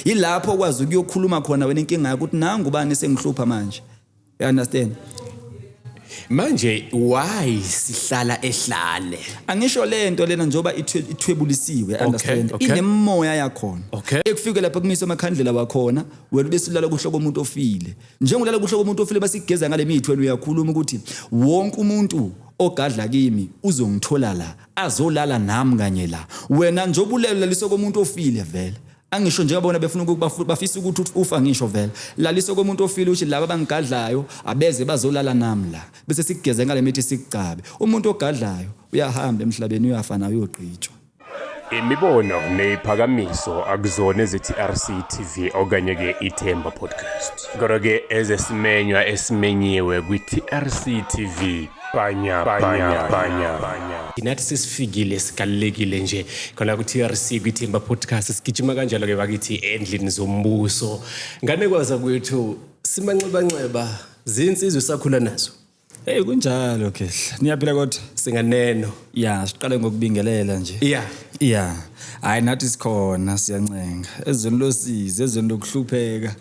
Yilapho okwazi ukuyokhuluma khona wena inkinga yakho ukuthi nangu ubani sengihlupha manje. You understand? Manje why sihlala ehlane? Angisho lento lena njoba ithwebulisiwe understand okay. inemoya yakhona okay. ekufike lapha kumise amakhandlela wakhona wena besilala kuhloko umuntu ofile njengolala kuhloko umuntu ofile basigeza ngale mithi wena uyakhuluma ukuthi wonke umuntu ogadla kimi uzongithola la azolala nami kanye la wena njobulela lisokomuntu ofile vele Angisho nje abona befuna ukuba futhi bafisa ukuthi ufa ngisho vela. Lalisa komuntu ofile uthi laba bangigadlayo abeze bazolala nami la. Bese sikugeze ngale mithi sikugcabe. Umuntu ogadlayo uyahamba emhlabeni uyafa naye uyogqitshwa. Imibono neyiphakamiso akuzona eziTRC TV okanye ke iThemba Podcast. Kodwa ke ezesimenywa esimenyiwe kwiTRC TV Banya, banya, banya, banya. nathi sesifikile sigalulekile nje khona ku-trc kwithemba podcast sigijima kanjalo-ke bakithi endlini zombuso nganekwaza kwethu simanxebanxeba zinsizwe sakhula nazo Hey kunjalo khehla. Niyaphila kodwa? singaneno Ya, siqale ngokubingelela nje. ya Ya. Hayi nathi sikhona siyancenga. Ezweni losizi, ezweni lokuhlupheka.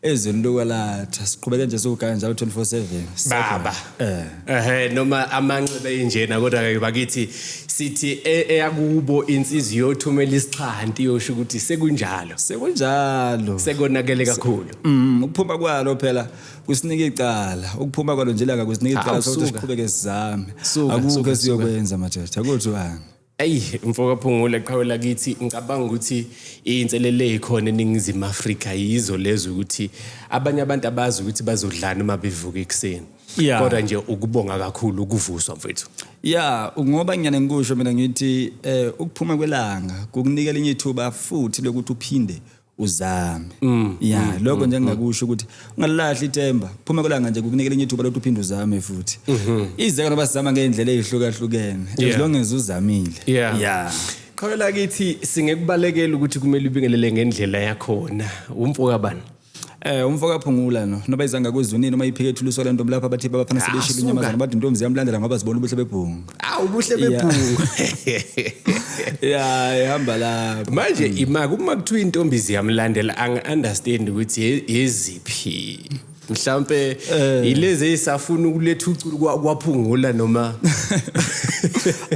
ezweni lokwelatha siqhubeke nje siwugaya njalo 24/7 baba eh ehe noma amanxebe enjena kodwa ke bakithi sithi e- eyakubo insizwe yothumela isixhanti yosho ukuthi sekunjalo sekunjalo sekonakele kakhulu Mm, ukuphuma kwalo phela kusinika icala ukuphuma kwalo nje laka kusinika Ah, icala sokuthi suka. siqhubeke sizame Suka, suka, akukho suka. esiyokwenza madoda kuthiwani Ayi mfokaphungula qhawe lakithi ngicabanga ukuthi inselele ekhona eningizimu Afrika yizo lezo ukuthi abanye abantu abazi ukuthi bazodlana uma bevuka ekuseni yeah. kodwa nje ukubonga kakhulu ukuvuswa mfethu ya ngoba ngiyane ngikusho mina ngithi eh ukuphuma kwelanga kukunikela enye ithuba futhi lokuthi uphinde uzame mm, ya mm, lokho mm, nje ngingakusho ukuthi ungalilahli ithemba phuma kolanga nje kukunikela enye ithuba lokuthi uphinde uzame futhi mm-hmm. izeka noba sizama ngendlela ezihlukahlukene as long as uzamile yeah, yeah. qhawela kithi singekubalekela ukuthi kumele ubingelele ngendlela yakhona umfo kabani Eh umfo kaphungula no noba izanga kwezunini uma iphike ethuluso le ntombi lapha bathi babafana sebeshila Asuka. inyamazana bathi intombi ziyamlandela ngoba zibona ubuhle bebhungu awu ubuhle Yeah. bebhungu ya ihamba lapho manje imaka uma kuthiwa intombi ziyamlandela angi-understand ukuthi ye- yeziphi mhlawumpe yilezi eyisafuna ukuletha uculu kwa- kwaphungula noma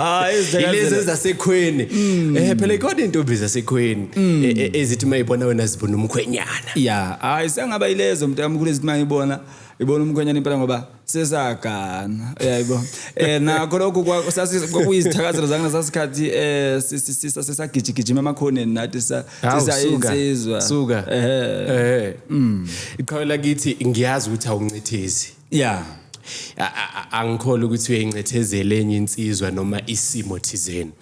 Ah, ezidlekazela. yilezi ezasekhweni um phela ikhona intombi zasekhweni e- e- ezithi uma ibona wena zibona umkhwenyana ya hayi sengaba ilezo mntu amkhulu ezithi mayibona ibona umkhwenyana impela ngoba sesagana yayibona eh nakho lokho kwakuyizithakazelo zakhe sasikhathi eh sisagijigijima emakhoneni nathi sisayensizwa suka eh mm. iqhawela kithi ngiyazi ukuthi awuncithizi yeah angikhole ukuthi uyayincethezela enye insizwa noma isimo thizeni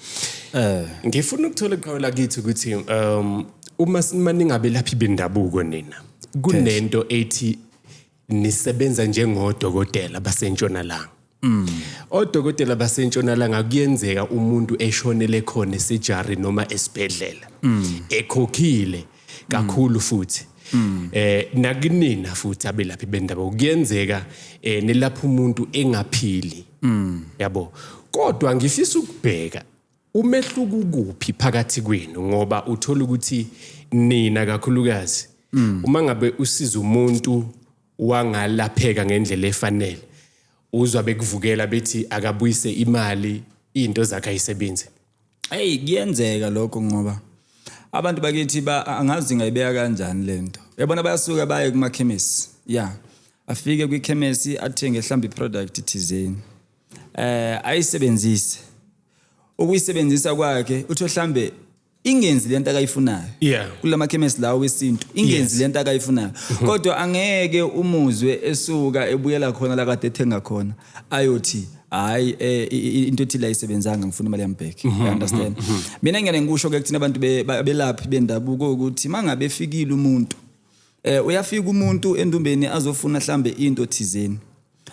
eh ngifuna ukuthola iqhawela kithi ukuthi um uma simaningabe laphi bendabuko nina kunento ethi nisebenza njengodokotela basentshonalanga Mm. Odokotela basentshonalanga kuyenzeka umuntu eshonele khona esejari noma esibhedlela. Mm. Ekhokhile kakhulu futhi Mm. eh nakunina futhi abelaphi bendaba kuyenzeka eh nelapha umuntu engaphili mm. yabo kodwa ngifisa ukubheka umehluko ukuphi phakathi kwenu ngoba uthola ukuthi nina kakhulukazi mm. uma ngabe usiza umuntu wangalapheka ngendlela efanele uzwa bekuvukela bethi akabuyise imali into zakhe ayisebenze Hey kuyenzeka lokho ngoba abantu bakithi ba angazi ngayibeka kanjani lento. Yabona bayasuka baye kuma chemist. Yeah. Afike kwi chemist athenge mhlambi product thizeni. Eh ayisebenzise. Ukuyisebenzisa kwakhe utho mhlambe ingenzi lento akayifunayo yeah. kulama chemist lawo wesintu ingenzi yes. lento akayifunayo mm -hmm. kodwa angeke umuzwe esuka ebuyela khona la kade ethenga khona ayothi hayi eh, into ethi la isebenzanga ngifuna imali yambheki mhm, i understand mhm, mhm. mina ngene ngikusho ke kuthina abantu belaphi bendabuko ukuthi mangabe efikile umuntu eh uyafika umuntu endumbeni azofuna mhlambe into thizeni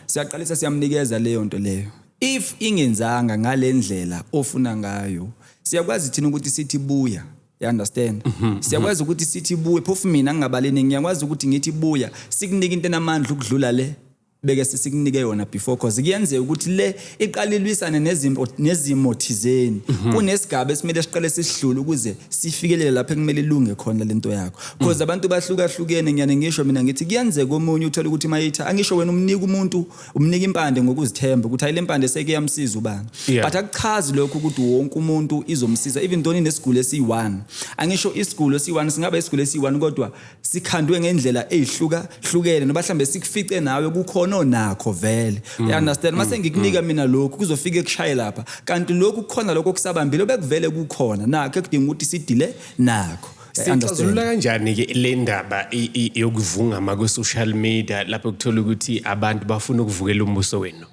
siyaqalisa siyamnikeza leyo nto leyo if ingenzanga ngalendlela ofuna ngayo siyakwazi thina ukuthi sithi buya you understand mhm, mhm. siyakwazi ukuthi sithi buye phofu mina ngingabaleni ngiyakwazi ukuthi ngithi buya sikunike into enamandla ukudlula le beke sisikunike yona before cause kuyenzeka ukuthi le iqala ilwisane nezimo nezimo thizeni mhm. kunesigaba esimele siqale sisidlule ukuze sifikelele lapho ekumele ilunge khona lento yakho cause mhm. abantu bahlukahlukene ngiyane ngisho mina ngithi kuyenzeka omunye uthola ukuthi mayitha angisho wena umnika umuntu umnika impande ngokuzithemba ukuthi ayile mpande seke yamsiza ubani but akuchazi lokho ukuthi wonke umuntu izomsiza even though inesiguli esiyi-1 angisho isigulo esiyi-1 singaba isigulo esiyi-1 kodwa sikhandwe ngendlela ezihluka hlukene noba hlambe sikufice nawe kukhona onakho vele mm. you understand mm. mase ngikunika mm. mina lokhu kuzofika ekushaye lapha kanti lokhu kukhona lokho kusabambile obekuvele kukhona nakho ekudinga ukuthi sidile nakho sixazulula kanjani ke le ndaba yokuvungama kwe-social media lapho kuthola ukuthi abantu bafuna ukuvukela umbuso wenu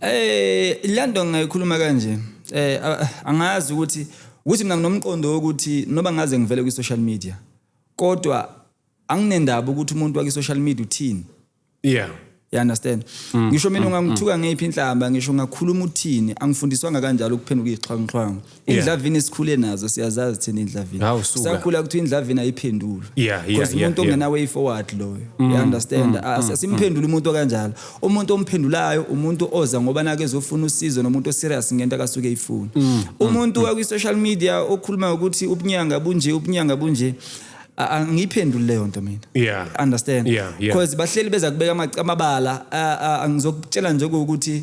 Eh lento ngayikhuluma kanje eh angazi ukuthi ukuthi mina nginomqondo wokuthi noba ngaze ngivele kwi social media kodwa anginendaba ukuthi umuntu waki social media uthini yeah you understand mm, ngisho mina mm, ungangithuka mm. ngeyiphi inhlamba ngisho ngakhuluma uthini angifundiswanga kanjalo ukuphenduka izixhwanguxhwangu Yeah. indlavini sikhule nazo siyazazi thina indlavini Hawu, suka. sakhula kuthiwa indlavini ayiphendulwe Yeah, yeah, Because yeah, umuntu yeah. ongena way forward loyo you understand As- asimphendule umuntu okanjalo umuntu omphendulayo umuntu oza ngoba nake ezofuna usizo nomuntu oserious ngento akasuke eyifuna umuntu wakwi-social media okhuluma ukuthi ubunyanga bunje ubunyanga bunje a- angiyiphenduli leyo nto mina Yeah. understand Yeah, yeah. because bahleli beza kubeka amac- amabala a- a- angizokutshela nje ukuthi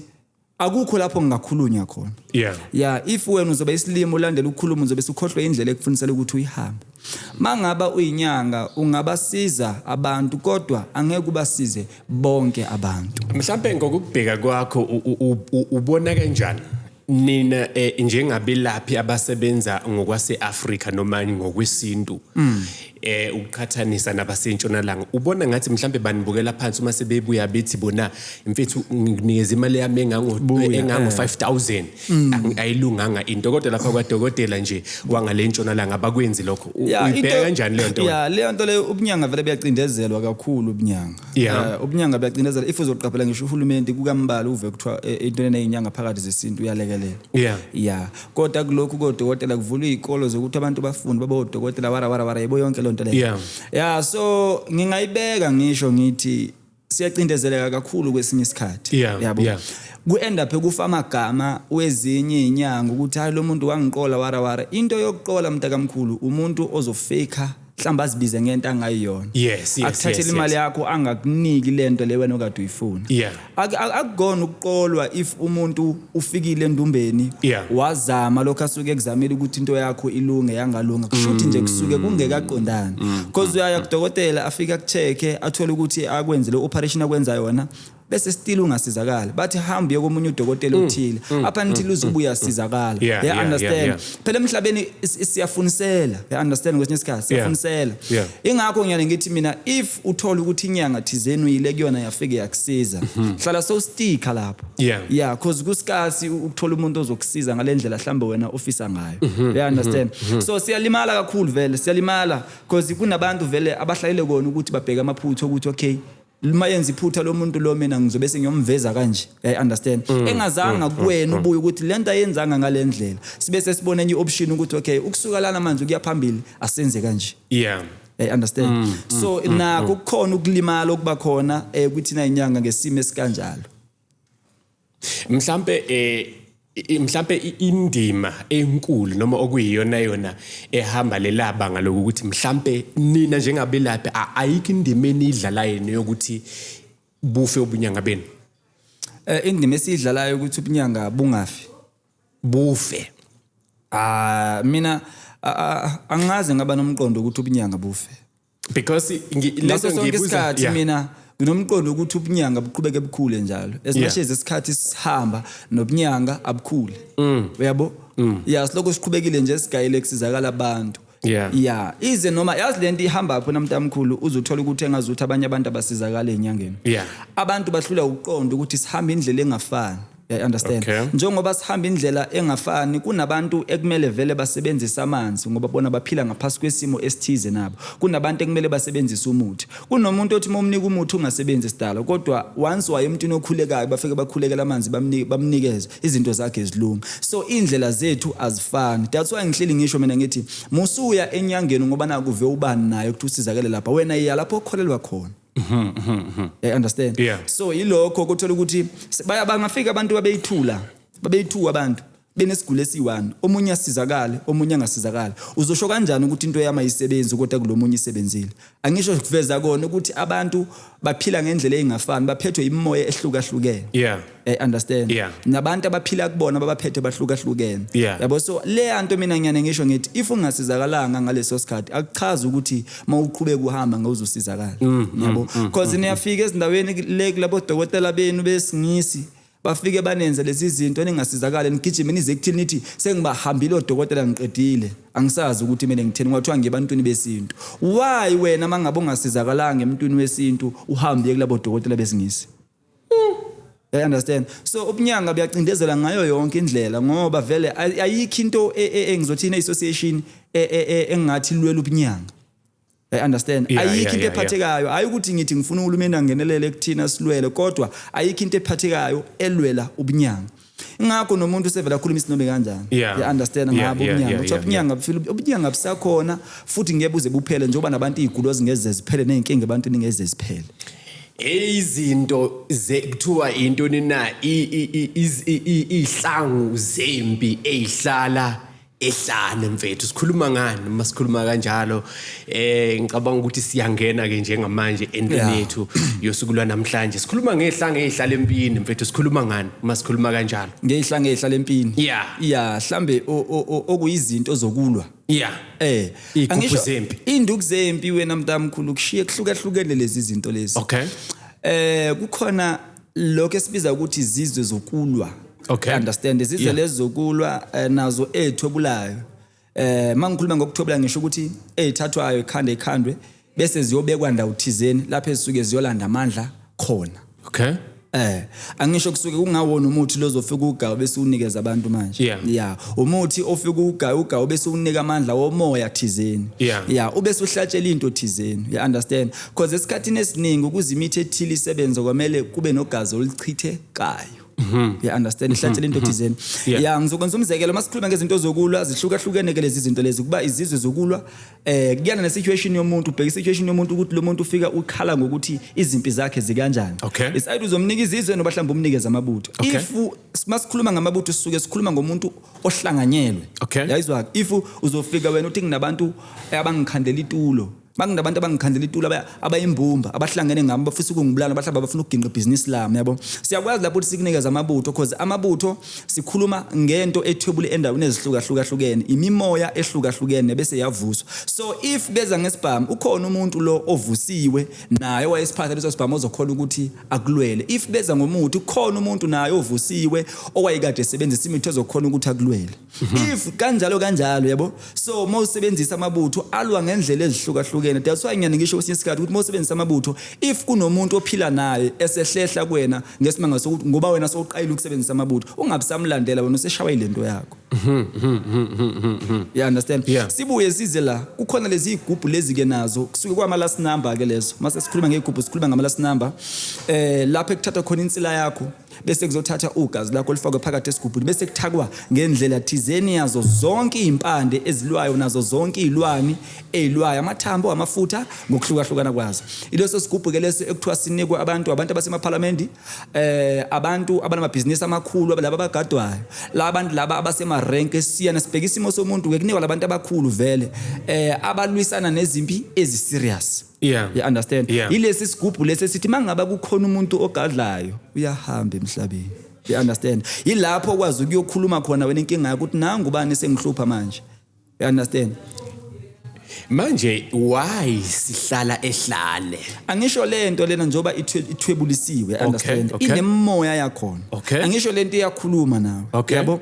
akukho lapho ngingakhulunywa khona yeah yeah if wena uzobe isilimo ulandela ukukhuluma uzobe sukhohlwe indlela ekufunisela ukuthi uyihambe mangaba uyinyanga ungabasiza abantu kodwa angeke ubasize bonke abantu mhlawumbe ngokubheka kwakho ubona kanjani nina eh, njengabelaphi abasebenza ngokwaseAfrika noma ngokwesintu mm. eh ukuqhathanisa nabasentshonalanga ubona ngathi mhlambe banibukela phansi uma sebebuya bethi bona mfethu nginikeza imali yami engango engango 5000 eh. mm. ayilunganga into kodwa lapha kwadokotela nje wangalentshonalanga bakwenzi lokho uyibheka kanjani le nto ya le nto le ubunyanga vele buyacindezelwa kakhulu ubunyanga eh, ubunyanga buyacindezelwa if uzoqaphela ngisho uhulumeni kukambalwa uve kuthiwa eh, into eneyinyanga phakathi zesintu uyalekelela yeah yeah kodwa kulokhu kodokotela kuvulwa izikolo zokuthi abantu bafunde babe odokotela wara wara wara yebo yonke lonto leyo yeah yeah so ngingayibeka ngisho ngithi siyacindezeleka kakhulu kwesinye isikhathi yeah, yabo yeah. ku-end up kufa amagama wezinye inyanga ukuthi hayi lo muntu wangiqola wara wara into yokuqola mntakamkhulu umuntu ozofika mhlawumbe azibize ngento angayiyona yes yes akuthathele yes, imali yes. yakho angakuniki lento le wena okade uyifuna Yeah. Ak- ak- akukona ukuqolwa if umuntu ufikile endumbeni Yeah. wazama lokho asuke ekuzamile ukuthi into yakho ilunge yangalunga kushuthi nje kusuke Mm. kungekaqondani because uyaya kudokotela afike akucheke athole ukuthi akwenzele operation akwenza yona bese still ungasizakala bathi hamba uye komunye udokotela mm, othile mm, up until mm, uzobuya sizakala yeah, yeah, understand yeah, yeah. phela emhlabeni siyafunisela yeah, understand kwesinye isikhathi siyafunisela yeah, yeah. ingakho ngiyale ngithi mina if uthola ukuthi inyanga thizeni uyile kuyona yafike yakusiza mm-hmm. hlala so sticker lapho yeah yeah cause kusikasi ukuthola umuntu ozokusiza ngalendlela hlambe wena ofisa ngayo mm-hmm, yeah understand mm-hmm, so siyalimala kakhulu vele siyalimala cause kunabantu vele abahlalele kona ukuthi babheke amaphutha ukuthi okay uma yenza iphutha lo muntu lo mina ngizobe sengiyomveza kanje i understand mm, engazanga mm, mm, kuwena ubuye ukuthi lento ayenzanga ngalendlela sibe sesibona enye option ukuthi okay ukusuka lana manje kuya phambili asenze kanje yeah i understand mm, so mm, nako kukhona ukulimala okuba khona eh kuthina inyanga ngesimo esikanjalo mhlambe eh mhlambe indima enkulu noma okuyiyona yona ehamba lelabanga lokuthi mhlambe nina njengabelaphi ayikho indima enidlalayo neyokuthi bufe ubunyanga benu eh indima esidlalayo ukuthi ubunyanga bungafi bufe ah mina angaze ngaba nomqondo ukuthi ubunyanga bufe because lento ngiyibuza yeah. mina nginomqondo ukuthi ubunyanga buqhubeke bukhule njalo as much as isikhathi sihamba nobunyanga abukhule mm. uyabo mm. ya silokhu siqhubekile nje sigayile kusizakala abantu yeah yeah ize noma yazi lento ihamba pho namntamkhulu uzothola ukuthi engazuthi abanye abantu abasizakala enyangeni yeah abantu bahlula ukuqonda ukuthi sihamba indlela engafani I understand Okay. njengoba sihamba indlela engafani kunabantu ekumele vele basebenzise amanzi ngoba bona baphila ngaphasi kwesimo esithize nabo kunabantu ekumele basebenzise umuthi kunomuntu othi momnika umuthi ungasebenzi sidala kodwa once waye emntwini okhulekayo bafike bakhulekela amanzi bamni- bamnikeze izinto zakhe zilunga so indlela zethu azifani that's why ngihleli ngisho mina ngithi musuya enyangeni ngoba nakuve ubani naye ukuthi usizakele lapha wena iya lapho okholelwa khona I understand Yeah. so yilokho kuthola ukuthi se- baya- bangafika abantu babeyithula babeyithuka abantu benesiguli esiyi-one omunye asizakale omunye angasizakali uzosho kanjani ukuthi into yami ayisebenzi kodwa kulo munye isebenzile angisho kuveza kona ukuthi abantu baphila ngendlela eyingafani baphethwe imimoya ehlukahlukene yeah Eh, understand yeah. nabantu abaphila kubona babaphethe bahlukahlukene yeah. yabo so le anto mina ngiyane ngisho ngithi if ungasizakalanga ngaleso sikhathi akuchazi ukuthi mawuqhubeka uhamba ngawuzosizakala mm, mm, yabo mm, mm, cause mm, niyafika ezindaweni le kulabo dokotela benu besingisi bafike banenze lezi zinto ningasizakala nigijime nize kuthini nithi sengibahambile odokotela ngiqedile angisazi ukuthi mina ngitheni kwathiwa ngebantwini besintu why wena mangabe ungasizakalanga emntwini wesintu uhambe kulabo dokotela besingisi I understand. So ubunyanga buyacindezela ngayo yonke indlela ngoba vele ayikho into e, e, engizothi ine association e, engathi lwela ubunyanga. I understand. Ayikho into ephathekayo. Hayi ukuthi ngithi ngifuna uhulumeni angenelele kuthina silwele kodwa ayikho into ephathekayo elwela ubunyanga. ingakho nomuntu usevela akhuluma isinobe kanjani yeah. understand ngabo yeah, ubunyanga kuthiwa ubunyanga bufile ubunyanga busakhona futhi ngeke buze buphele njengoba nabantu iy'gulo zingeze ziphele ney'nkinga ebantwini ngeze ziphele izinto kuthiwa intoni na iy'hlangu zempi ey'hlala ehlane mfethu sikhuluma ngani uma sikhuluma kanjalo eh ngicabanga ukuthi siyangena ke njengamanje entweni yethu yosuku lwanamhlanje sikhuluma ngehlanga ezihlala empini mfethu sikhuluma ngani uma sikhuluma kanjalo ngehlanga ezihlala empini yeah yeah mhlambe okuyizinto zokulwa yeah eh angisho zempi induku zempi wena mntamkhulu kushiye kuhlukahlukene lezi zinto lezi okay eh kukhona lokho esibiza ukuthi izizwe zokulwa Okay. understand izizwe Yeah. lezi zokulwa eh, nazo ezithwebulayo eh mangikhuluma ngokuthwebula ngisho ukuthi ezithathwayo ekhanda ekhandwe bese ziyobekwa ndawo thizeni lapho ezisuke ziyolanda amandla khona okay Eh, angisho kusuke kungawona umuthi lozofika ugawu bese unikeza abantu manje. Yeah. Yeah. Umuthi ofika ugawu ugawu bese unika amandla womoya thizeni. Yeah. Yeah, ubese uhlatshela into thizeni. You understand? Because esikhathini esiningi ukuze imithi ethile isebenze kwamele kube nogazi olichithekayo. Mhm. You understand ihlathi lento thizeni. Yeah. Ya ngizokwenza umzekelo masikhuluma ngezinto zokulwa zihlukahlukene ke lezi zinto lezi kuba izizwe zokulwa eh kuyana ne situation yomuntu ubheka situation yomuntu ukuthi lo muntu ufika ukhala ngokuthi izimpi zakhe zikanjani. Okay. Is either uzomnika izizwe noba mhlawumbe umnikeze amabutho. Okay. If masikhuluma ngamabutho sisuke sikhuluma ngomuntu ohlanganyelwe. Okay. Yayizwa if uzofika wena uthi nginabantu abangikhandela itulo Bakundabantu abangikhandela itulo aba- abayimbumba abahlangene ngami bafisa ukungibulala bahlaba bafuna ukuginqa ibhizinisi lami yabo. Siyakwazi lapho ukuthi sikunikeze amabutho cause amabutho sikhuluma ngento ethwebule endaweni ezihlukahlukene, imimoya ehlukahlukene bese yavuswa. So if beza ngesibhamu ukhona umuntu lo ovusiwe naye owayesiphatha leso sibhamu ozokhona ukuthi akulwele. If beza ngomuthi ukhona umuntu naye ovusiwe owayekade esebenzisa imithi ozokhona ukuthi akulwele. if kanjalo kanjalo yabo so uma usebenzisa amabutho alwa ngendlela ezihlukahlukene that's why ngiyane ngisho kwesinye isikhathi ukuthi uma usebenzisa amabutho if kunomuntu ophila naye esehlehla kuwena ngesimanga sokuthi ngoba wena sowuqayile ukusebenzisa amabutho ungabisamlandela wena useshawa ilento yakho yeah understand Yeah. sibuye size la kukhona lezi igubhu lezi ke nazo kusuke kwama last number ke lezo mase sikhuluma ngegubhu sikhuluma ngama last number eh lapho ekuthatha khona insila yakho bese kuzothatha ugazi lakho lifakwe phakathi esigubhini bese kuthakwa ngendlela thizeni yazo zonke izimpande ezilwayo nazo zonke izilwani ezilwayo amathambo amafutha ngokuhlukahlukana kwazo ileso sigubhu ke leso ekuthiwa sinikwe abantu abantu abasemaphalamende eh abantu abanamabhizinisi amakhulu laba abagadwayo la bantu laba abasema rank esiyana sibheka isimo somuntu ke kunikwa labantu abakhulu vele eh abalwisana nezimpi ezi serious yeah you understand yeah. ilesi sigubhu lesi sithi mangaba kukhona umuntu ogadlayo uyahamba emhlabeni you understand ilapho kwazi ukuyokhuluma khona wena inkinga yakho ukuthi nangu bani sengihlupha manje you understand manje why sihlala ehlane angisho lento lena njoba ithwebulisiwe understand okay, okay. inemoya yakhona okay. angisho lento iyakhuluma nawe okay. yabo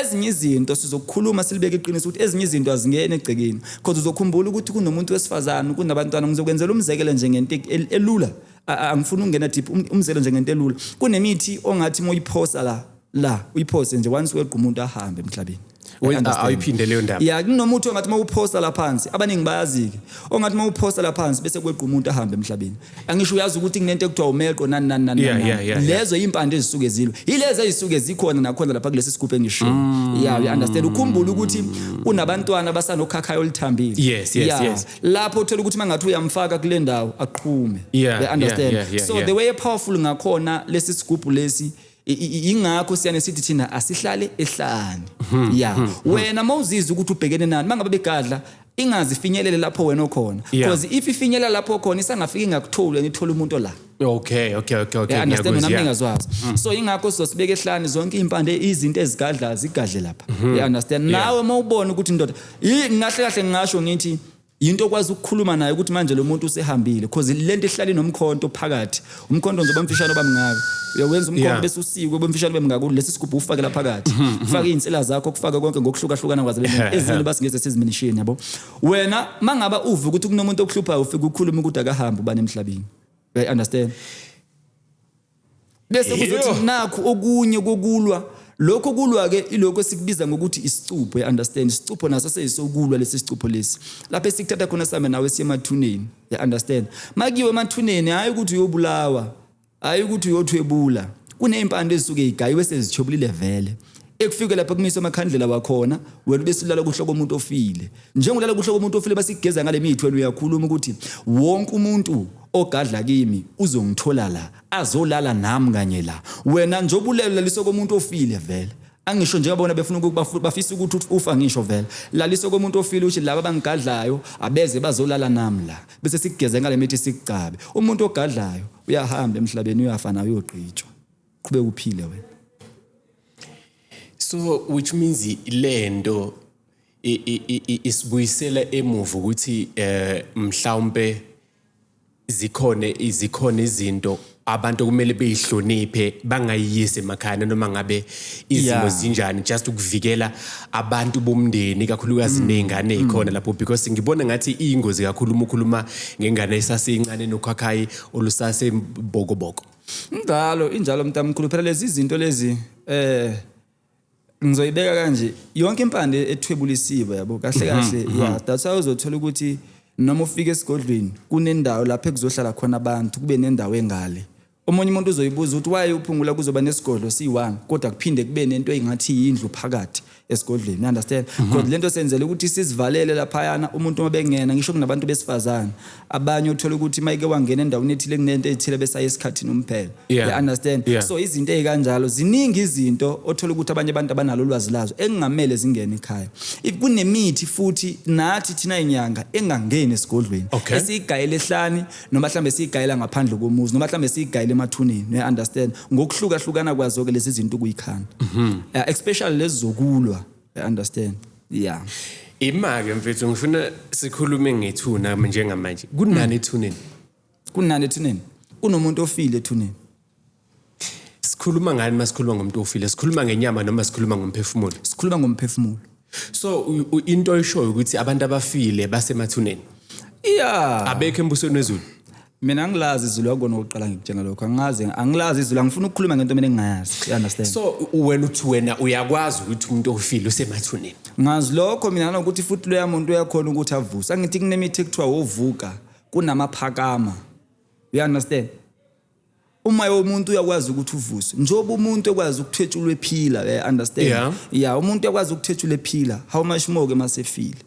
ezinye izinto sizokukhuluma silibeke iqiniso ukuthi ezinye izinto azingene egcekeni Cause uzokhumbula ukuthi kunomuntu wesifazane kunabantwana ngizokwenzela umzekelo nje ngento elula angifuni ukungena deep um, umzekelo nje ngento elula kunemithi ongathi moyiphosa la la uyiphose nje once weqa umuntu ahambe emhlabeni ayiphinde leyo ndaba ya kunomuthi ongathi uma uphosta la phansi abaningi bayazi-ke ongathi uma uphosta la phansi bese kweqa umuntu ahambe emhlabeni angisho uyazi ukuthi kunento ekuthiwa umeqo nani nani nani yeah, yeah, yeah, lezo yeah. impande ezisuke zilwe yilezi ezisuke zikhona nakhona lapha kulesi sigubhu engisho mm. yeah you understand ukhumbula ukuthi unabantwana basanokhakhayo olithambile yes, yes, yeah. yes. lapho uthola ukuthi mangathi uyamfaka kule ndawo aqhume yeah, they understand yeah, yeah, yeah, so yeah. the way powerful ngakhona lesi sigubhu lesi ingakho siyane sithi thina asihlale ehlane hmm. ya hmm. Hmm. wena mawuzizwa ukuthi ubhekene nani mangabe begadla ingazi finyelele lapho wena okhona because if ifinyelela lapho khona isangafika ingakutholi and ithola umuntu la okay okay okay okay understand mina ngingazwazi so ingakho sizosibeka ehlane zonke impande izinto ezigadla zigadle lapha you understand nawe mawubona ukuthi indoda ngahle kahle ngisho ngithi Yinto okwazi ukukhuluma nayo ukuthi manje lo muntu usehambile because le nto ihlale nomkhonto phakathi. Umkhonto nje bamfishane obamngaka. Uyawenza umkhonto Yeah. bese usikwe bamfishane obamngaka lesi sigubhu ufakela phakathi. Faka izinsila zakho kufake konke ngokuhlukahlukana kwazo Ehhe, ehhe. ezini basingeze seziminishini yabo. Wena mangaba uve ukuthi kunomuntu okuhluphayo ufike ukhulume ukuthi akahambe ubani emhlabeni. I understand. bese kuzothi Eyo. nakhu okunye kokulwa lokho kulwa ke ilokho esikubiza ngokuthi isicupho you understand isicupho naso seyisokulwa lesi sicupho lesi lapho esikuthatha khona sambe nawe siye emathuneni you understand makiwe emathuneni hayi ukuthi uyobulawa hayi ukuthi uyothwebula kuney'mpande ezisuke yigayiwe sezithwebulile vele ekufike lapha kumise amakhandlela wakhona wena besilala kuhlo komuntu ofile njengolala kuhlo komuntu ofile basigeza ngale mithi wena uyakhuluma ukuthi wonke umuntu ogadla kimi uzongithola la azolala nami kanye la wena nje obulelo laliso komuntu ofile vele angisho njengabona befuna ukuthi bafisa ukuthi ufa ngisho vele laliso komuntu ofile uthi laba bangigadlayo abeze bazolala nami la bese sigeze ngale mithi sikucabe umuntu ogadlayo uyahamba emhlabeni uyafa nayo uyogqitshwa qhubeka uphile wena so which means lento isibuyisela emuva ukuthi eh mhlawumbe zikhona izikhona izinto abantu kumele beyihloniphe bangayiyisi emakhaya noma ngabe izimo zinjani just ukuvikela abantu bomndeni kakhulukazi mm. nezingane ezikhona mm. lapho because ngibona ngathi ingozi kakhulu uma ukhuluma ngengane esaseyincane nokhakhayi olusase bokoboko Njalo injalo mntamkhulu phela lezi zinto lezi eh ngizoyibeka kanje yonke impande ethwebulisiwe yabo kahle mhm, kahle mhm. yeah that's why uzothola ukuthi noma ufika esigodlweni kunendawo lapho ekuzohlala khona abantu kube nendawo engale omunye umuntu uzoyibuza ukuthi why uphungula kuzoba nesigodlo siyi-one kodwa kuphinde kube nento engathi yindlu phakathi esigodleni understand mhm. because mm -hmm. lento senzele ukuthi sizivalele laphayana umuntu uma bengena ngisho kunabantu besifazane abanye uthola ukuthi mayike wangena endaweni ethile kunento ethile besaye esikhathini umphela yeah. you understand yeah. so izinto ezikanjalo ziningi izinto othola ukuthi abanye abantu abanalo ulwazi lazo engingamele zingene ekhaya if kunemithi futhi nathi thina inyanga engangeni esigodlweni okay. esiyigayele ehlani noma mhlawumbe siyigayela ngaphandle komuzi noma mhlawumbe siyigayela emathuneni ne understand ngokuhlukahlukana kwazo ke lezi zinto kuyikhanda mhm. eh, especially lezi zokulwa i understand yeah imake mfethu ngifuna sikhulume ngethuna njengamanje kunani ethuneni kunani ethuneni kunomuntu ofile ethuneni sikhuluma ngani uma sikhuluma ngomuntu ofile sikhuluma ngenyama noma sikhuluma ngomphefumulo sikhuluma ngomphefumulo so into oyishoyo ukuthi abantu abafile basemathuneni yeah abekho embusweni wezulu mina angilazi izulu yakona ukuqala ngikutshena lokho angazi angilazi izulu angifuni ukukhuluma ngento mina engingayazi you understand so wena uthi wena uyakwazi ukuthi umuntu ofile usemathuneni ngazi lokho mina nokuthi futhi loya muntu uyakhona ukuthi avuse angithi kunemithi ekuthiwa wovuka kunamaphakama you understand umoya womuntu uyakwazi ukuthi uvuswe njengoba umuntu ekwazi ukuthwetshulwa ephila eh, ya understand Yeah. ya umuntu uyakwazi ukuthwetshula ephila how much more ke masefile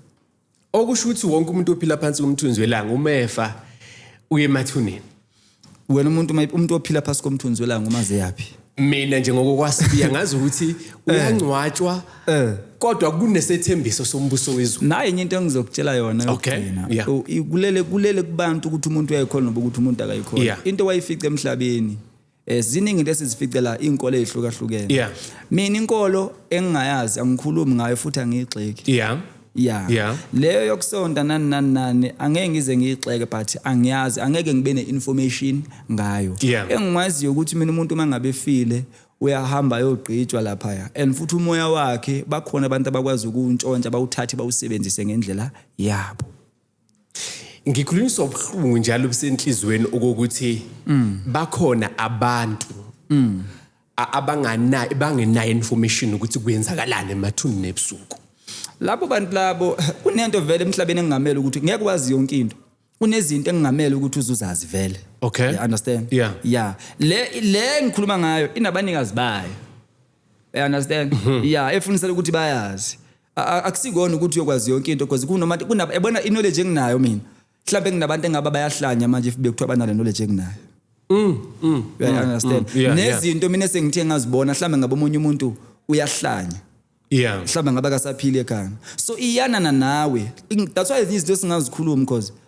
okusho ukuthi wonke umuntu ophila phansi komthunzi welanga uma efa uye emathuneni wena umuntu uma- umuntu ophila phasi komthunzi welanga uma zeyaphi mina nje ngokokwasibiya ngazi ukuthi uyangcwatshwa Eh. kodwa kunesethembiso sombuso wezulu naye enye into engizokutshela yona Okay, yokugcina yeah. U- i- kulele kulele kubantu ukuthi umuntu uyayikhona noba ukuthi umuntu akayikhona Yeah. into wayifica emhlabeni eh ziningi into esizifice la inkolo ezihlukahlukene Yeah. mina inkolo engingayazi angikhulumi ngayo futhi angiyigxeki yeah Yeah. Yeah. Leyo yokusonta nani nani nani angeke ngize ngiyixeke but angiyazi angeke ngibe neinformation ngayo. Yeah. Engikwaziyo ukuthi mina umuntu mangabe file uyahamba yogqitshwa lapha ya and futhi umoya wakhe bakhona abantu abakwazi ukuntshontsha bawuthathe bawusebenzise ngendlela yabo. ngikhulunyiswa ubuhlungu njalo busenhlizweni okokuthi mm. bakhona abantu mm. abangana bangenayo information ukuthi kwenzakalani emathuni nebusuku labo bantu labo kunento vele emhlabeni engingamele ukuthi ngeke wazi yonke into kunezinto engingamele ukuthi uzuzazi vele okay you understand yeah yeah le le ngikhuluma ngayo inabanikazi bayo You understand? Mhm. Yeah, efunisela ukuthi bayazi. A- a- Akusikona ukuthi uyokwazi yonke into because kunoma kunaba yabona i-knowledge enginayo mina. Mhlawumbe nginabantu engaba bayahlanya manje if bekuthiwa banale knowledge enginayo. Mm, mm. You understand? mm, yeah, yeah. Nezinto mina sengithe ngazibona mhlawumbe ngaba omunye umuntu uyahlanya. Yeah. mhlawumbe ngabe akasaphile ekhanda so iyanana nawe In- that's why izinto esingazikhulumi because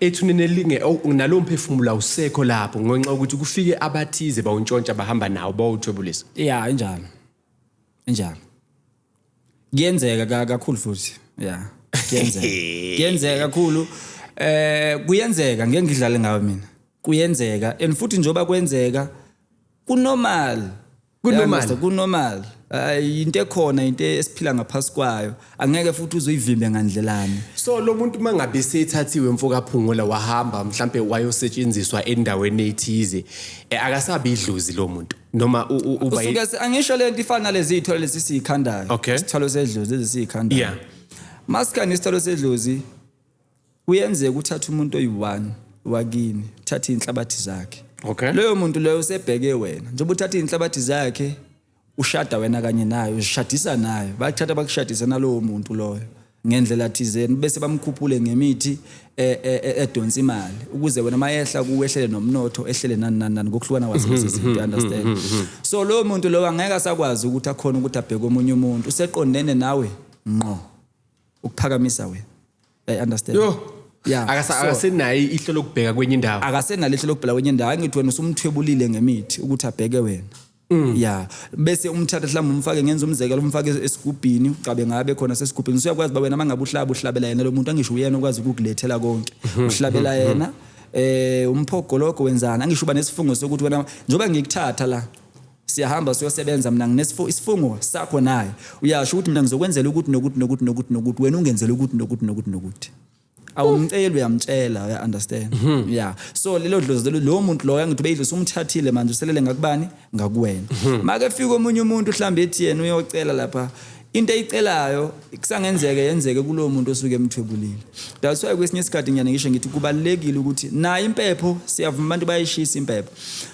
Ethuneni elinge oh, nalowo mphefumulo awusekho lapho ngenxa yokuthi kufike abathize bawuntshontsha bahamba nawo bawuthwebulisa ya injalo injalo kuyenzeka ka- kakhulu futhi ya kuyenzeka kuyenzeka kakhulu eh kuyenzeka ngeke ngidlale ngawe mina kuyenzeka and futhi njoba kwenzeka kunormal kunormal kunormal hayi into ekhona into esiphila ngaphasi kwayo angeke futhi uzoyivimbe ngandlelani so lo muntu mangabe sethathiwe mfoka phungula wahamba mhlambe wayosetshenziswa endaweni ethize eh, akasabi idlozi lo muntu noma uba usuke angisho lento ifana lezi ithole lesi sikhandayo isithwalo sedlozi lezi sikhandayo yeah masikani isithwalo sedlozi Kuyenzeka uthathe umuntu oyi-one wakini, uthathe iy'nhlabathi zakhe. Okay. Loyo muntu loyo usebheke wena. Njengoba uthatha iy'nhlabathi zakhe, ushada wena kanye nayo, uzishadisa nayo. Bakuthatha bakushadise nalowo muntu loyo ngendlela thizeni bese bamkhuphule ngemithi eh, eh, eh, edonsa imali ukuze wena mayehla kuwehlele nomnotho ehlele nani nani nani ngokuhlukana kwazo lezi zinto you understand so lowo muntu lowo angeke asakwazi ukuthi akhona ukuthi abheke omunye umuntu useqondene nawe ngqo ukuphakamisa wena i understand yo yeah akasenayo so, ihlo lokubheka kwenye indawo akasenalo ihlo lokubheka kwenye indawo angithi wena usumthwebulile ngemithi ukuthi abheke wena Mm. ya bese umthatha mhlawumbe umfake ngenza umzekelo umfake esigubhini ucabe ngabe khona sesigubhini usuyakwazi ba wena mangabe uhlaba uhlabela yena lo muntu angisho uyena okwazi ukukulethela konke mhm. uhlabela mhm. yena eh umphogoloko wenzana angisho uba nesifungo sokuthi wena njengoba ngikuthatha la Siyahamba siyosebenza mina nginesifungo isifungo sakho naye. Uyasho ukuthi mina ngizokwenzela ukuthi nokuthi nokuthi nokuthi nokuthi wena ungenzela ukuthi nokuthi nokuthi nokuthi. Awumceli uyamtshela uya understand. Mhm. Yeah. So lelo dlozi lelo lo muntu loyo ngithi beyidlozi umthathile manje uselele ngakubani ngakuwena. Mhm. Make fika omunye umuntu uhlambe ethi yena uyocela lapha into eyicelayo kusangenzeke yenzeke kulowo muntu osuke emthwebulile that's why kwesinye isikhathi ngiyane ngisho ngithi kubalekile ukuthi nayo impepho siyavuma abantu bayishisa impepho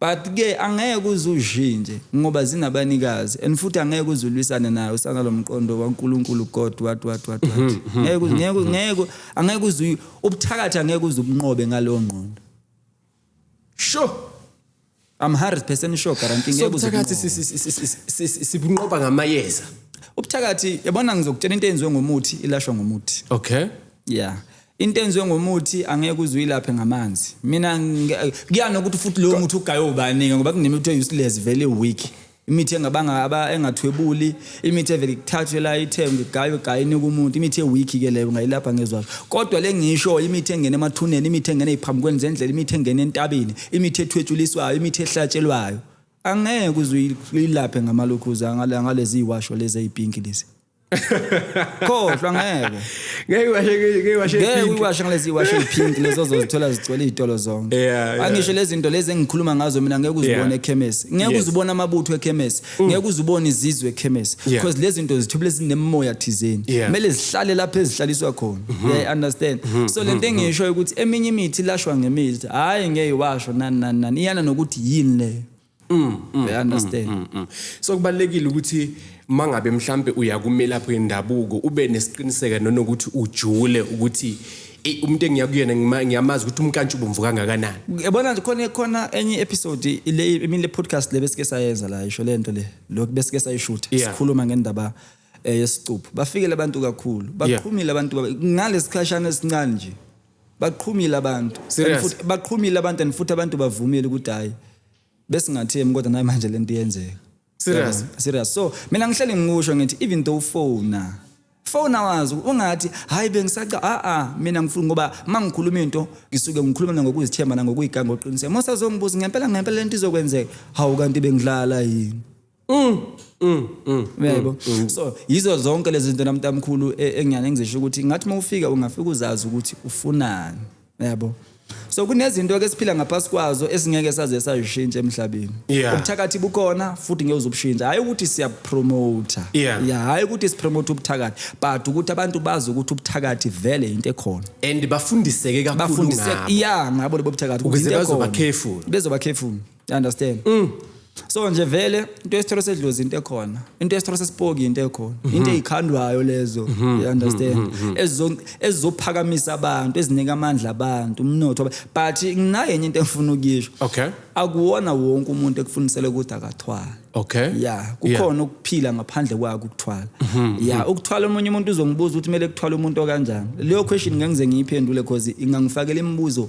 But ke angeke uze ushintshe ngoba zinabanikazi and futhi angeke uze ulwisane nayo usanalomqondo waNkulunkulu God what what what what. Mhm, mhm, ngeke mhm, ngeke ngeke angeke uze ubuthakathi angeke uze ubunqobe ngalowo ngqondo. Sure. I'm 100% sure guarantee ngeke uze. Sobuthakathi sibunqoba ngamayeza. Ubuthakathi yabona ngizokutshela into eyenziwe ngomuthi ilashwa ngomuthi. Okay. Yeah. into enziwe ngomuthi angeke uze uyilaphe ngamanzi mina kuyana ukuthi futhi lowo muthi ugaye ubaningi ngoba kunemithi e-useless vele weak imithi engabanga aba engathwebuli imithi evele kuthathwe la ithengwe igaywe gaye inika umuntu imithi e-weak ke leyo ungayilapha ngezwayo kodwa le ngisho imithi engena emathuneni imithi engena eziphambukweni zendlela imithi engena entabeni imithi ethwetshuliswayo imithi ehlatshelwayo angeke uze uyilaphe ngamalokhuza ngalezi washo lezi ezipinki lezi khohlwa ngeke ngeke washe ngeke washe ngeke uyiwashe ngalezi iwashe pink lezo zozithola zigcwele izitolo zonke Yeah, yeah. angisho lezi zinto lezi engikhuluma ngazo mina ngeke uzibone Yeah. ekhemesi ngeke Yes. Mm. uzibone amabutho ekhemesi ngeke uzibone izizwe ekhemesi Yeah. because lezi zinto zithubile zinemoya thizeni Yeah. Mm-hmm. kumele zihlale lapho ezihlaliswa khona yeah, understand so lento engisho ukuthi eminye imithi ilashwa ngemithi hayi ngeke iwasho nani nani nani iyana nokuthi yini leyo Mm, mm, I understand. Mm, mm. So kubalekile ukuthi mangabe mhlambe uyakumelaphi wendabuko ube nesiqiniseka nonokuthi ujule ukuthi eh, umuntu engiya kuyena ngima- ngiyamazi ukuthi umkantsha ubomvu kangakanani. Yabona nje khona khona enye episode le imile podcast le besike sayenza la isho lento le lo besike sayishoot Yeah. sikhuluma ngendaba eh, yesicupho bafikele abantu kakhulu Yeah. baqhumile abantu baba- ngalesikhashana esincane nje Baqhumile abantu. And Serious? futhi- Baqhumile abantu and futhi abantu bavumile ukuthi hayi besingathemi kodwa naye manje lento iyenzeka. Serious? Yabona? Serious. So mina ngihleli ngikusho ngithi even though ufona fona wazi ungathi hayi bengisaca a a mina ngifuna ngoba mangikhuluma into ngisuke ngikhuluma mina ngokuzithemba nangokuyigangoqiniseka mosazongibuza ngempela ngempela lento izokwenzeka hawu kanti bengidlala yini Mm, mm, mm, uyaybo mm, mm. so yizo zonke lezi zinto namntamkhulu e, engiyane engizisho ukuthi ngathi uma ufika ungafika uzazi ukuthi ufunani uyabo so kunezinto ke siphila ngaphasi kwazo esingeke saze sayishintsha emhlabeni yeah. ubuthakathi bukhona futhi ngeke uzobushintsha hayi ukuthi siyapromoter yeah. yeah hayi ukuthi sipromote ubuthakathi but ukuthi abantu bazi ukuthi ubuthakathi vele into ekhona and bafundiseke kakhulu ngabo bafundiseke yeah ngabo lobuthakathi ukuthi bazoba careful bezoba careful You understand? Mm. So nje vele into yesithelo sedlozi into ekhona. Into yesithelo sesipoki into ekhona. Mhm. Into ezikhandwayo lezo. Mhm. You mhm. understand? Ezo ezizophakamisa abantu, ezinika amandla abantu, umnotho. But nginaye enye into engifuna ukuyisho. Okay. Akuwona wonke umuntu ekufundisele ukuthi akathwala. Okay. Yeah, kukhona ukuphila ngaphandle kwako ukuthwala. Yeah, ukuthwala omunye umuntu uzongibuza ukuthi kumele kuthwala umuntu okanjani. Leyo question ngengize ngiyiphendule because ingangifakela imibuzo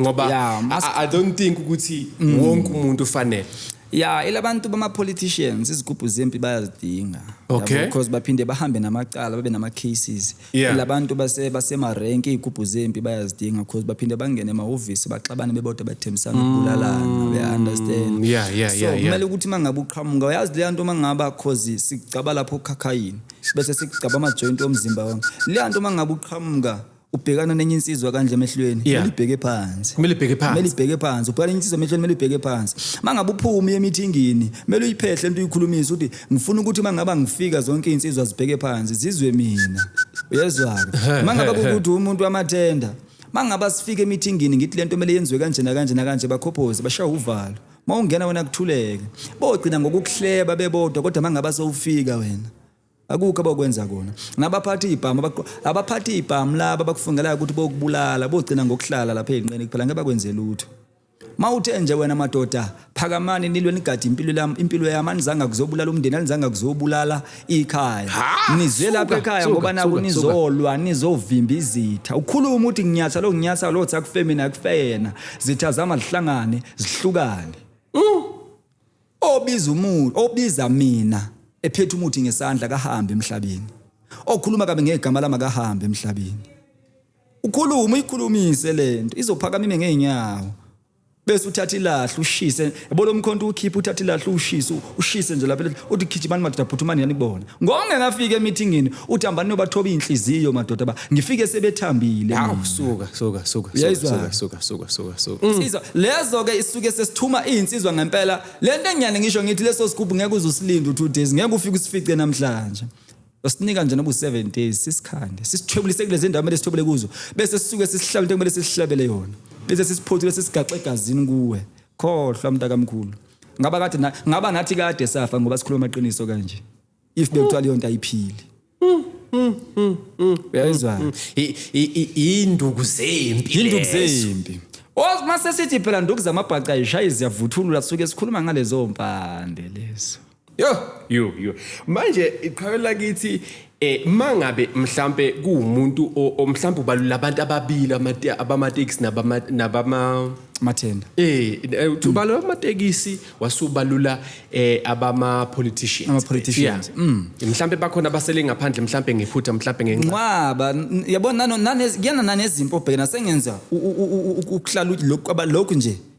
ngoba yeah, must... I, I don't think ukuthi mm. wonke umuntu ufanele ya elabantu bama-politicians izigubhu zempi bayazidinga okay. because baphinde bahambe namacala babe nama-cases yeah. elabantu basemarenki iy'gubhu zempi bayazidinga because baphinde bangene emahhovisi baxabane bebodwa bathembisana ukubulalana mm. beya-understand yeah, yeah, so kumele yeah, yeah. ukuthi uma ngabe uqhamuka uyazi leya nto uma ngaba cause sigcaba lapho okhakhayini bese sigcaba amajoyinti omzimba wami leya nto uma ngabe uqhamuka ubhekana nenye insizwa kanje emehlweni Yeah. kumele ibheke phansi Kumele ibheke phansi. kumele ibheke phansi ubhekana nenye insizwa emehlweni kumele ibheke phansi mangabe uphuma uye emithingini kumele uyiphehle into uyikhulumise ukuthi ngifuna ukuthi mangaba ngifika zonke insizwa zibheke phansi zizwe mina uyezwa ke mangaba ukuthi umuntu amathenda mangaba sifike emithingini ngithi lento kumele yenziwe kanje nakanje nakanje bakhophoze bashaya uvalo mawungena wena kuthuleke bogcina ngokukuhleba bebodwa kodwa mangaba sowufika wena Akukho abakwenza kona. Nabaphatha ibhamu abaphatha ibhamu laba bakufungelayo ukuthi bokubulala bogcina ngokuhlala lapha ezinqeni kuphela ngeke bakwenze lutho. Mawuthe nje wena madoda phakamani nilwe nigade impilo yami impilo yami anizanga kuzobulala umndeni anizanga kuzobulala ikhaya. Nizwe lapha ekhaya ngoba naku nizolwa nizovimba izitha. Ukhuluma uthi nginyatha lo nginyatha lo tsa kufemina kufena. Zitha zama zihlangane zihlukane. obiza umuntu obiza mina ephethe umuthi ngesandla kahambe emhlabeni okhuluma kabi ngegama lami akahambe emhlabeni ukhuluma uyikhulumise lento izophakama ime ngeenyawo bese uthatha ilahle ushise yabo lo mkhonto ukhipha uthatha ilahle ushise ushise nje lapha uthi gijimani madoda phuthumani yanibona Ngokungekafiki emithingini uThambani nobathoba inhliziyo madoda ba ngifike sebethambile. Hawu suka suka suka suka suka suka suka suka. Insizwa mm. lezo ke isuke sesithuma izinsizwa ngempela. Lento enyane ngisho ngithi leso sigubhu ngeke uzusilinda u2 days ngeke ufike usifice namhlanje. Usinika nje nobu 7 days sisikhande. Sisithwebulise kulezi ndawo mele sithobele kuzo bese sisuke sisihlabele into kumele sisihlabele yona. Bese sisiphothule sisigaxe egazini kuwe. Khohlwa mntakamkhulu. Ngaba kade na- ngaba nathi kade safa ngoba sikhuluma amaqiniso kanje. If bekuthiwa leyo nto ayiphili. Uyayizwa? I- i- i- Iyinduku zempi. Yinduku lezo. zempi. Os mase sithi phela nduku zamabhaca ayishayi ziyavuthulula suke sikhuluma ngalezo mpande lezo. Yo, yo, yo. Manje iqhawe lakithi eh mangabe mhlambe kuumuntu omhlambe ubalula abantu ababili abamatekisi nabama nabama mathenda eh, eh ubalula amatekisi wasubalula eh abama politicians ama politicians mm. mhlambe bakhona abasele ngaphandle mhlambe ngephutha mhlambe ngenxa nqaba yabona nano nane kuyana nanezimpo obhekena sengenza ukuhlala lokho lokho nje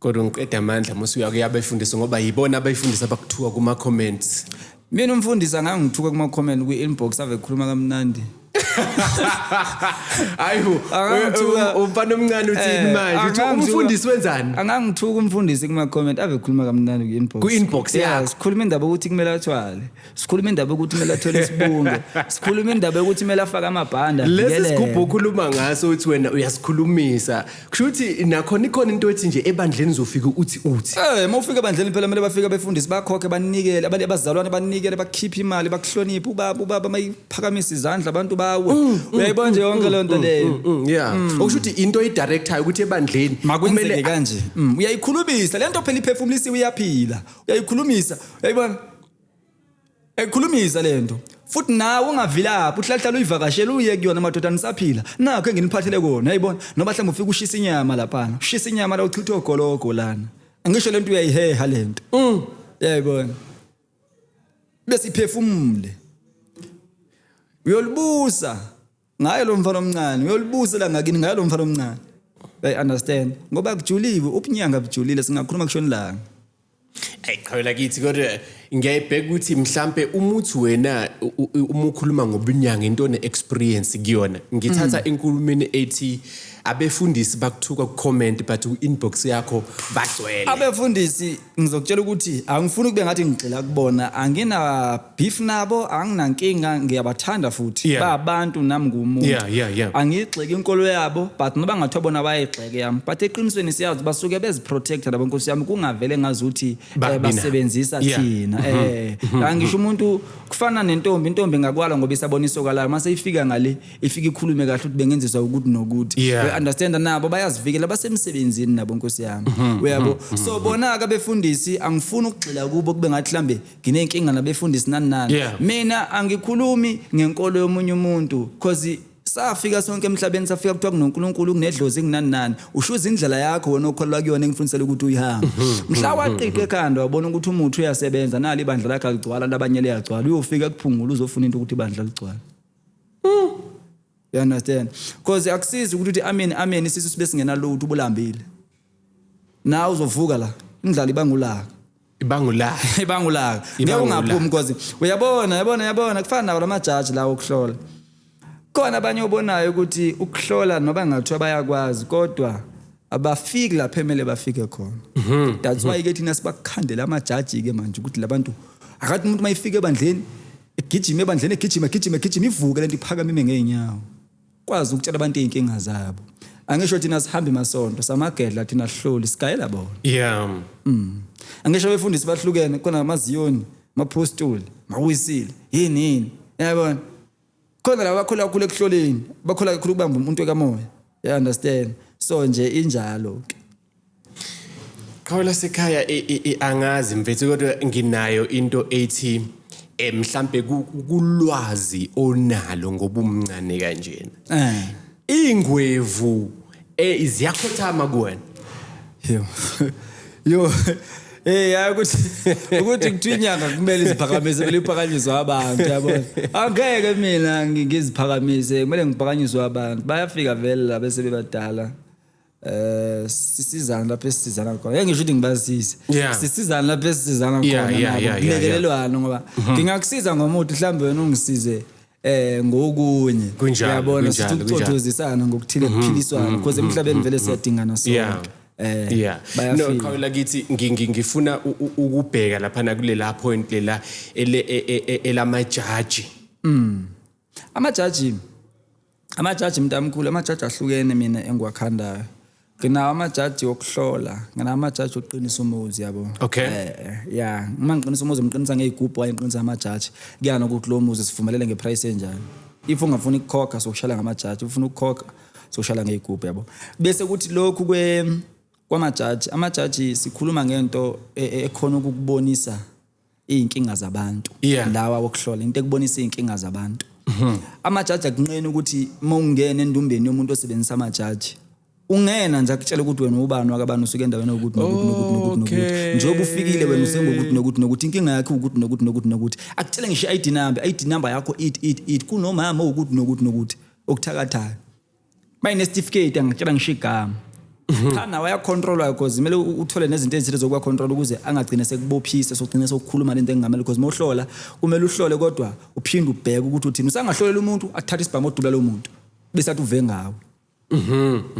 Kodwa ngiqeda amandla musi uyakuya abefundisi ngoba yibona abayifundisa abakuthiwa kuma comments. Mina umfundisi angangithuka kuma comment kwi inbox ave khuluma kamnandi. Hayi bo. Angangithuka- Umfana omncane uthini Eh, manje? Uthi angangithuka- umfundisi wenzani? Angangithuka umfundisi kuma comment ave khuluma kamnandi kwi inbox. Ku-inbox Yes, yakho. Khuluma indaba ukuthi kumele athwale. sikhuluma indaba yokuthi kumele athole isibunge sikhuluma indaba yokuthi kumele afake amabhanda lesi sigubhu okhuluma ngaso uthi wena uyasikhulumisa kusho ukuthi nakhona ikhona into ethi nje ebandleni uzofika uthi uthi eh uma ufika ebandleni phela kumele bafike befundise bakhokhe banikele abantu abazalwane banikele bakhiphe imali bakuhloniphe ubaba ubaba mayiphakamisa izandla abantu bawe mm, mm, uyayibona nje mm, yonke le nto leyo yeah okusho ukuthi into eyidirectayo ukuthi ebandleni kumele kanje uyayikhulumisa le nto phela iphefumulisiwe iyaphila uyayikhulumisa uyayibona ekhulumisa lento futhi nawe ungavilaphi uhlahlala uyivakashela uye kuyona madoda nisaphila nakho enginiphathele kona yayibona noba mhlawumbe ufika ushisa inyama laphana ushisa inyama la uchitha ogologo lana angisho lento uyayiheha lento mm. yayibona bese iphefumule uyolibusa ngaye lo mfana omncane uyolibusela ngakini ngaye lo mfana omncane they understand ngoba kujuliwe ubunyanga bujulile singakhuluma kushona ilanga Ayi qhawela kithi kodwa ngiyayibheka ukuthi mhlambe umuthi wena u- u- uma ukhuluma ngobunyanga into ne experience kuyona ngithatha enkulumeni ethi abefundisi bakuthuka ku comment but u inbox yakho bagcwele abefundisi ngizokutshela ukuthi angifuni kube ngathi ngigxila kubona angina beef nabo anginankinga ngiyabathanda futhi yeah. babantu nami ngumuntu yeah, yeah, yeah. angiyigxeki inkolo yabo but noba ngathiwa bona bayayigxeke yami but eqinisweni siyazi basuke beziprotecta labo nkosi yami kungavele ngazi ukuthi eh, basebenzisa yeah. thina mm -hmm. eh mm -hmm. angisho umuntu kufana nentombi intombi ngakwala ngoba isabona isokalayo mase ifika ngale ifike ikhulume kahle ukuthi bengenziswa ukuthi nokuthi Yeah. we understand nabo bayazivikela basemsebenzini nabo nkosi yami Mhm, uyabo so bona ke abefundisi angifuni ukugxila kubo kube ngathi mhlambe nginenkinga nabefundisi nani nani Yeah. mina angikhulumi ngenkolo yomunye umuntu cause safika sonke emhlabeni safika kuthiwa kunonkulunkulu kunedlozi kunani nani ushuza indlela yakho wena okholelwa kuyona engifundisela ukuthi uyihambe Mhm, mhla waqiqa ekhanda wabona ukuthi umuthi uyasebenza nali ibandla lakhe aligcwala labanye liyagcwala uyofika kuphungula uzofuna into ukuthi ibandla ligcwale Mm. You understand? Because akusizi ukuthi uthi amen amen isisu sibe singena lutho ubulambile. Nawe uzovuka la. Indlala ibangulaka. Ibangulaka. ibangulaka. Ngeke ungaphumi because uyabona yabona yabona kufana nawo lamajaji lawo okuhlola. Khona abanye obonayo ukuthi ukuhlola noba ngathiwa bayakwazi kodwa abafiki lapha emele bafike khona. Mhm. That's why mhm. ke thina sibakhandela amajaji ke manje ukuthi labantu akathi umuntu mayifike ebandleni Egijima ebandleni egijima egijima egijima ivuke lento iphakama ime ngeenyawo. Kwazi ukutshela abantu izinkinga zabo. Angisho thina sihambe masonto samagedla thina hloli sigayela bona. Yeah. Mm. Angisho befundisi bahlukene kona amaziyoni, maphostoli, mawisile, yini yini. Yabona? Khona laba bakhola kakhulu ekuhloleni, bakhola kakhulu kubamba umuntu ekamoya. You understand? So nje injalo ke. Qhawe lasekhaya angazi mfethu kodwa nginayo into ethi eh mhlambe kulwazi onalo ngobumncane kanjena. Eh. Ingwevu eh iziyakhothama kuwena. Yo. Yo. Eh hayi ukuthi ukuthi kuthiwa inyanga kumele iziphakamise kumele iphakanyiswe abantu yabona. Angeke mina ngiziphakamise kumele ngiphakanyiswe abantu. Bayafika vele la bese bebadala. eh sisizana lapho esizana khona ngeke ngisho ukuthi ngibazise Yeah. sisizana lapho esizana khona Yeah, yeah, nabo, yeah, yeah, kulekelelwana ngoba Mhm. ngingakusiza ngomuthi mhlawumbe wena ungisize eh ngokunye Kunjalo, uyabona kunjalo, sithi kunjalo. Mhm, ukucothozisana ngokuthile kuphiliswana because emhlabeni vele siyadingana Yeah. sonke eh yeah no bayafika qhawula kithi ngi- ngi- ngifuna u- u- ukubheka lapha nakulela point lela ele- e- e- e- elamajaji amajaji Amajaji mntamkhulu amajaji ahlukene mina engiwakhandayo nginawo amajaji wokuhlola nginawo amajaji okuqinisa umuzi yabo okay eh, ya uma ngiqinisa umuzi ngiqinisa ngeyigubhu waye ngiqinisa amajaji kuyana ukuthi lo muzi sivumelele ngeprice enjani if ungafuni ukukhokha sokushala ngamajaji ufuna ukukhokha sokushala ngeyigubhu yabo bese kuthi lokhu kwe kwamajaji amajaji sikhuluma ngento e, e, ekhona ukukubonisa izinkinga zabantu yeah. lawa wokuhlola into ekubonisa izinkinga zabantu mhm. amajaji akunqeni ukuthi uma ungena endumbeni yomuntu osebenzisa amajaji ungena nje akutshela ukuthi wena ubani wakabani usuke endaweni yokuthi nokuthi nokuthi nokuthi nokuthi njengoba ufikile wena usengokuthi nokuthi nokuthi inkinga yakhe ukuthi nokuthi nokuthi nokuthi akutshele ngisho i-id number i-id number yakho it it it kunomama ukuthi nokuthi nokuthi okuthakathayo mayinesitifiketi angicela ngisho igama cha nawe ayacontrolwa because kumele u- uthole nezinto ezithile zokuba control ukuze angagcine sekubophise sogcine sokukhuluma lento engamele because mawuhlola kumele uhlole kodwa uphinde ubheke ukuthi uthini usangahlolela umuntu athathe isibhamu odubula lo muntu bese athi uve ngawo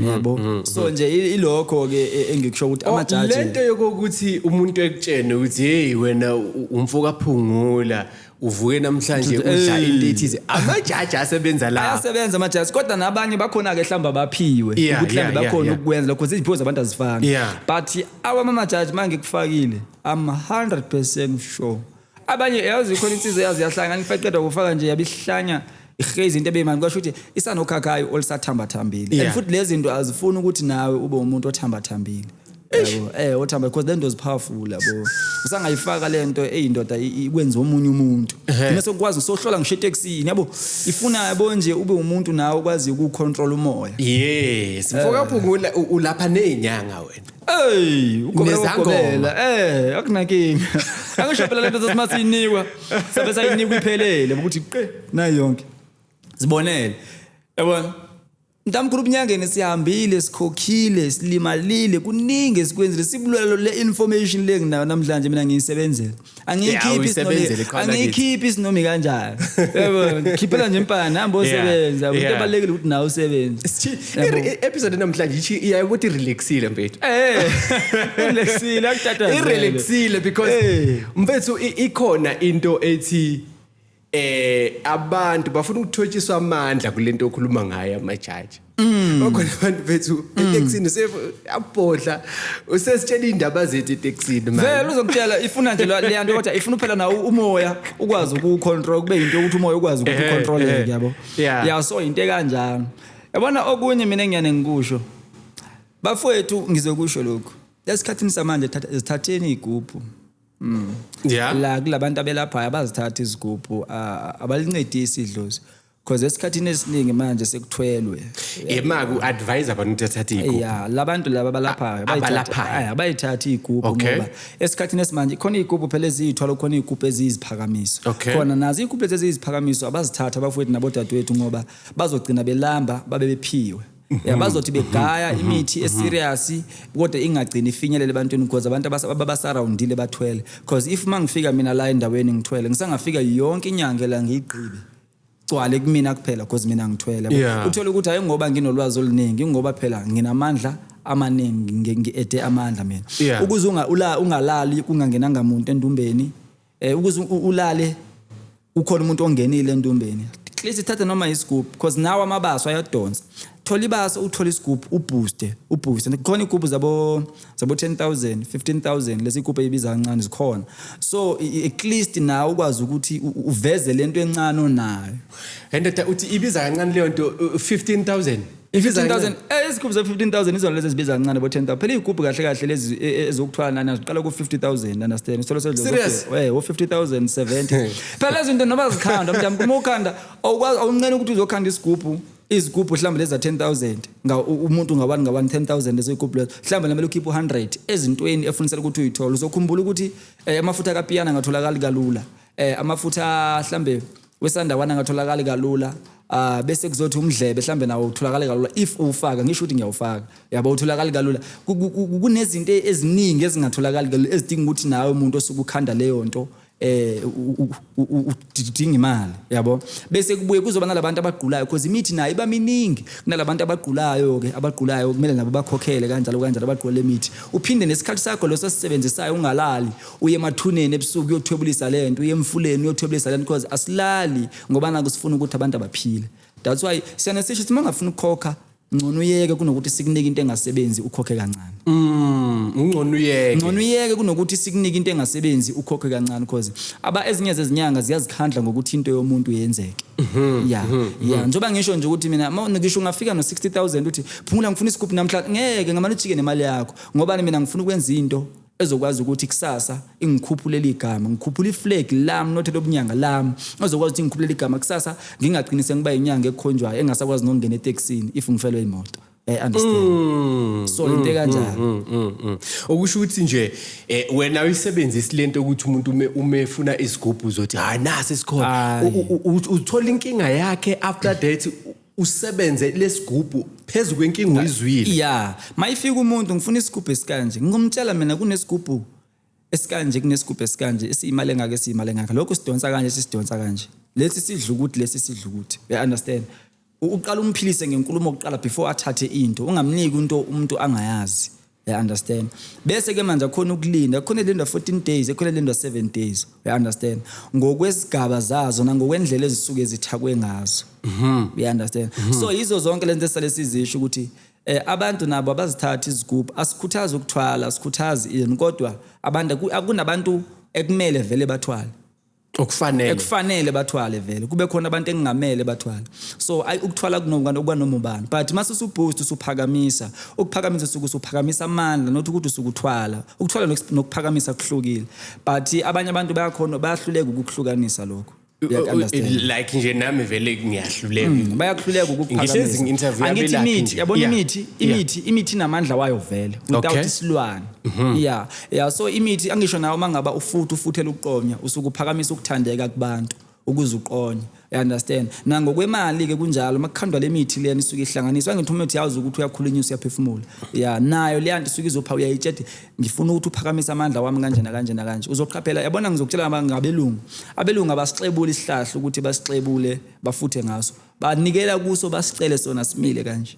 yabo so nje i- ilokho ke e- engikusho ukuthi Oh, amajaji lento yokuthi umuntu ekutshene ukuthi hey wena u- umfokaphungula uvuke namhlanje Dude, udla ey. into ethize amajaji asebenza la ayasebenza amajaji kodwa nabanye bakhona-ke mhlawumbe abaphiwe Yeah, ukuthi yeah, mhlawumbe yeah, bakhona yeah. ukukwenza lokho iziphiwo zabantu azifani Yeah. but awamamajaji ma ngikufakile am 100 percent sure abanye yazi khona insizwa yazi yahlanga ngifaqeda kufaka nje yabihlanya ihrezi into ebeyimani kwasho ukuthi isanokhakhayi olisathambathambile Yeah. and futhi lezi zinto azifuni ukuthi nawe ube umuntu othambathambile yabo eh othamba because lento is powerful yabo usangayifaka lento eyindoda i- i- ikwenza omunye umuntu mina sokwazi sohlola ngisho etaxini yabo ifuna yabo nje ube umuntu nawe okwazi ukucontrol umoya yes mfokaphungula u- ulapha nezinyanga wena Ey, ugobela Nezangoma. ugobela. Eh, akunakinga. Angisho phela lento sesimathi inikwa. Sabe sayinikwa iphelele ukuthi qe nayo yonke. Zibonele. Yabona? Mntamkhulu ubunyangeni sihambile sikhokhile silimalile kuningi esikwenzile sibulalo le information le nginayo namhlanje mina ngiyisebenzela angiyikhiphi isinomi angiyikhiphi isinomi kanjani yebo ngikhiphela nje impana hamba osebenza into ebalekile ukuthi nawe usebenze episode namhlanje ithi iyaye ukuthi relaxile mfethu eh relaxile akuthatha irelaxile because mfethu ikhona into ethi eh abantu bafuna ukuthotshiswa amandla kulento okhuluma ngayo amajaji mm. bakhona abantu bethu mm. etaxini useyabhodla usesitshela indaba zethu etaxini manje vele uzokutshela ifuna nje leyanto kodwa ifuna phela nawo umoya ukwazi ukucontrol kube into ukuthi umoya ukwazi ukucontrol eh, eh. yabo yeah so into kanjalo yabona okunye mina ngiyane ngikusho bafowethu ngizokusho lokho lesikhathini samanje thatha ezithatheni igubhu Mm. Yeah. La kulabantu abelaphayo abazithatha izigubhu abalincedisi idlozi. Because esikhathini esiningi manje sekuthwelwe. Yema ku advise abantu ukuthi athathe igubhu. Yeah, labantu laba balaphayo abayithatha abayithathi igubhu ngoba esikhathini esimanje khona igubhu phela ezithwala khona igubhu eziziphakamiso. Khona nazi igubhu eziziphakamiso abazithatha abafowethu nabodadewethu ngoba bazogcina belamba babe bephiwe. ya bazothi begaya imithi eserious kodwa ingagcini ifinyelele ebantwini because abantu abas- ababasurroundile bathwele because if uma ngifika mina la endaweni ngithwele ngisangafika yonke inyanga la ngiyigqibe gcwale kumina kuphela because mina ngithwele yabo. Yeah. uthole ukuthi hayi ngoba nginolwazi oluningi ngoba phela nginamandla amaningi ngi- ngi-ede amandla mina Yeah. ukuze unga- ula- ungalali kungangenanga muntu endumbeni eh ukuze u- ulale ukhona umuntu ongenile entombeni at least thatha noma isigubhu because nawo amabaso ayadonsa thola ibaso uthole isigubhu ubooste ubooste khona igubhu zabo zabo 10000 15000 lezi igubhu ezibiza kancane zikhona so i- i- at least nawe ukwazi ukuthi u- u- uveze lento encane onayo endoda uthi ibiza kancane leyo nto uh, 15000 i-15000 eh, izikhulu ze-15000 izona lezi ezibiza kancane bo-10000 phela iy'gubhu kahle kahle lezi e- e- ezokuthwala nana ziqala ku-50000 understand isitholo Serious? u-50070 phela lezi zinto noma zikhanda mntu uma ukhanda awukwazi- awunqeni ukuthi uzokhanda isigubhu izigubhu mhlawumbe lezi za-10000 nga- u- umuntu ngawani ngawani 10000 lezo igubhu lezo mhlawumbe namele ukhiphe u-100 ezintweni efunisela ukuthi uyithole uzokhumbula ukuthi eh, amafutha kapiyana angatholakali kalula eh, amafutha mhlawumbe wesandawana angatholakali kalula uh, bese kuzothi umdlebe mhlambe nawo utholakale kalula if uwufaka ngisho ukuthi ngiyawufaka yabo utholakale kalula kunezinto eziningi ezingatholakali kalula ezidinga ukuthi nawe umuntu osuke ukhanda leyo nto eh udinga imali yabo bese kubuye kuzoba nalabantu abagqulayo because imithi nayo iba miningi kunalabantu abagqulayo ke abagqulayo kumele nabo bakhokhele kanjalo kanjalo abagqula lemithi uphinde nesikhathi sakho leso sisebenzisayo ungalali Uye emathuneni ebusuku uyothwebulisa le nto, uye emfuleni uyothwebulisa le nto because asilali ngoba naku sifuna ukuthi abantu abaphile. That's why siyane sisho ukuthi uma ungafuni ukukhokha ngcono uyeke kunokuthi sikunike into engasebenzi ukhokhe kancane mm ngcono uyeke ngcono uyeke kunokuthi sikunike into engasebenzi ukhokhe kancane because aba ezinye zezinyanga ziyazikhandla ngokuthi into yomuntu yenzeke mhm, ya mhm, ya mhm. njoba ngisho nje ukuthi mina ngisho ungafika no 60000 uthi phumula ngifuna isigubhu namhlanje ngeke ngamane ujike nemali yakho ngoba mina ngifuna ukwenza into ezokwazi ukuthi kusasa ingikhuphule ligama ngikhuphula iflag lami not lobunyanga lami ezokwazi ukuthi ngikhuphule ligama kusasa ngingagcini sengiba inyanga ekhonjwayo engasakwazi nokungena eTexini if ngifelwe imoto I understand mm, so into mm, kanjalo mm, mm, mm. okusho ukuthi nje eh, wena uyisebenzisa lento ukuthi umuntu ume umefuna isigubhu uzothi hayi nasi sikhona uthola inkinga yakhe after that usebenze lesigubhu phezu kwenkinga uyizwile ya mayifika umuntu ngifuna isigubhu esikanje ngingumtshela mina kunesigubhu esikanje kunesigubhu esikanje esiyimali engaka esiyimali engaka lokho sidonsa kanje sisidonsa kanje lesi sidla ukuthi lesi sidla ukuthi you understand uqala umphilise ngenkulumo okuqala before athathe into ungamniki into umuntu angayazi I understand. Bese ke manje akhona ukulinda, khona lindwa 14 days, ekhona lindwa 7 days. I understand. Ngokwesigaba zazo nangokwendlela ezisuke zithakwe ngazo. Mhm. I understand. Mm -hmm. So yizo zonke lento esale sizisho ukuthi eh abantu nabo abazithatha izigubhu asikhuthaza ukuthwala, asikhuthazi ini kodwa abantu akunabantu ekumele vele bathwale. okufanele ekufanele bathwale vele kube khona abantu engingamele bathwale so ayi ukuthwala kunokungani okwanoma ubani but mase usuboost usuphakamisa ukuphakamisa usuku usuphakamisa amandla not ukuthi usukuthwala ukuthwala nokuphakamisa kuhlukile but abanye abantu bayakhona bayahluleka ukukuhlukanisa lokho like nje nami vele ngiyahluleka mm, bayakuhluleka ukuphakamisa imithi yabona imithi imithi imithi inamandla wayo vele without isilwane mhm. yeah ya so imithi angisho nawe uma ngaba ufuthi ufuthela ukuqonya usuke uphakamisa ukuthandeka kubantu ukuze uqonye you understand nangokwemali ke kunjalo makukhandwa lemithi lena isuke ihlanganiswa ngithi umuntu yazi ukuthi uyakhulunyisa uyaphefumula ya nayo leya nto isuke izopha uyayitshedi ngifuna ukuthi uphakamise amandla wami kanje nakanje nakanje uzoqhaphela yabona ngizokutshela ngabelungu abelungu abasixebula isihlahla ukuthi basixebule bafuthe ngaso banikela kuso basicele sona simile kanje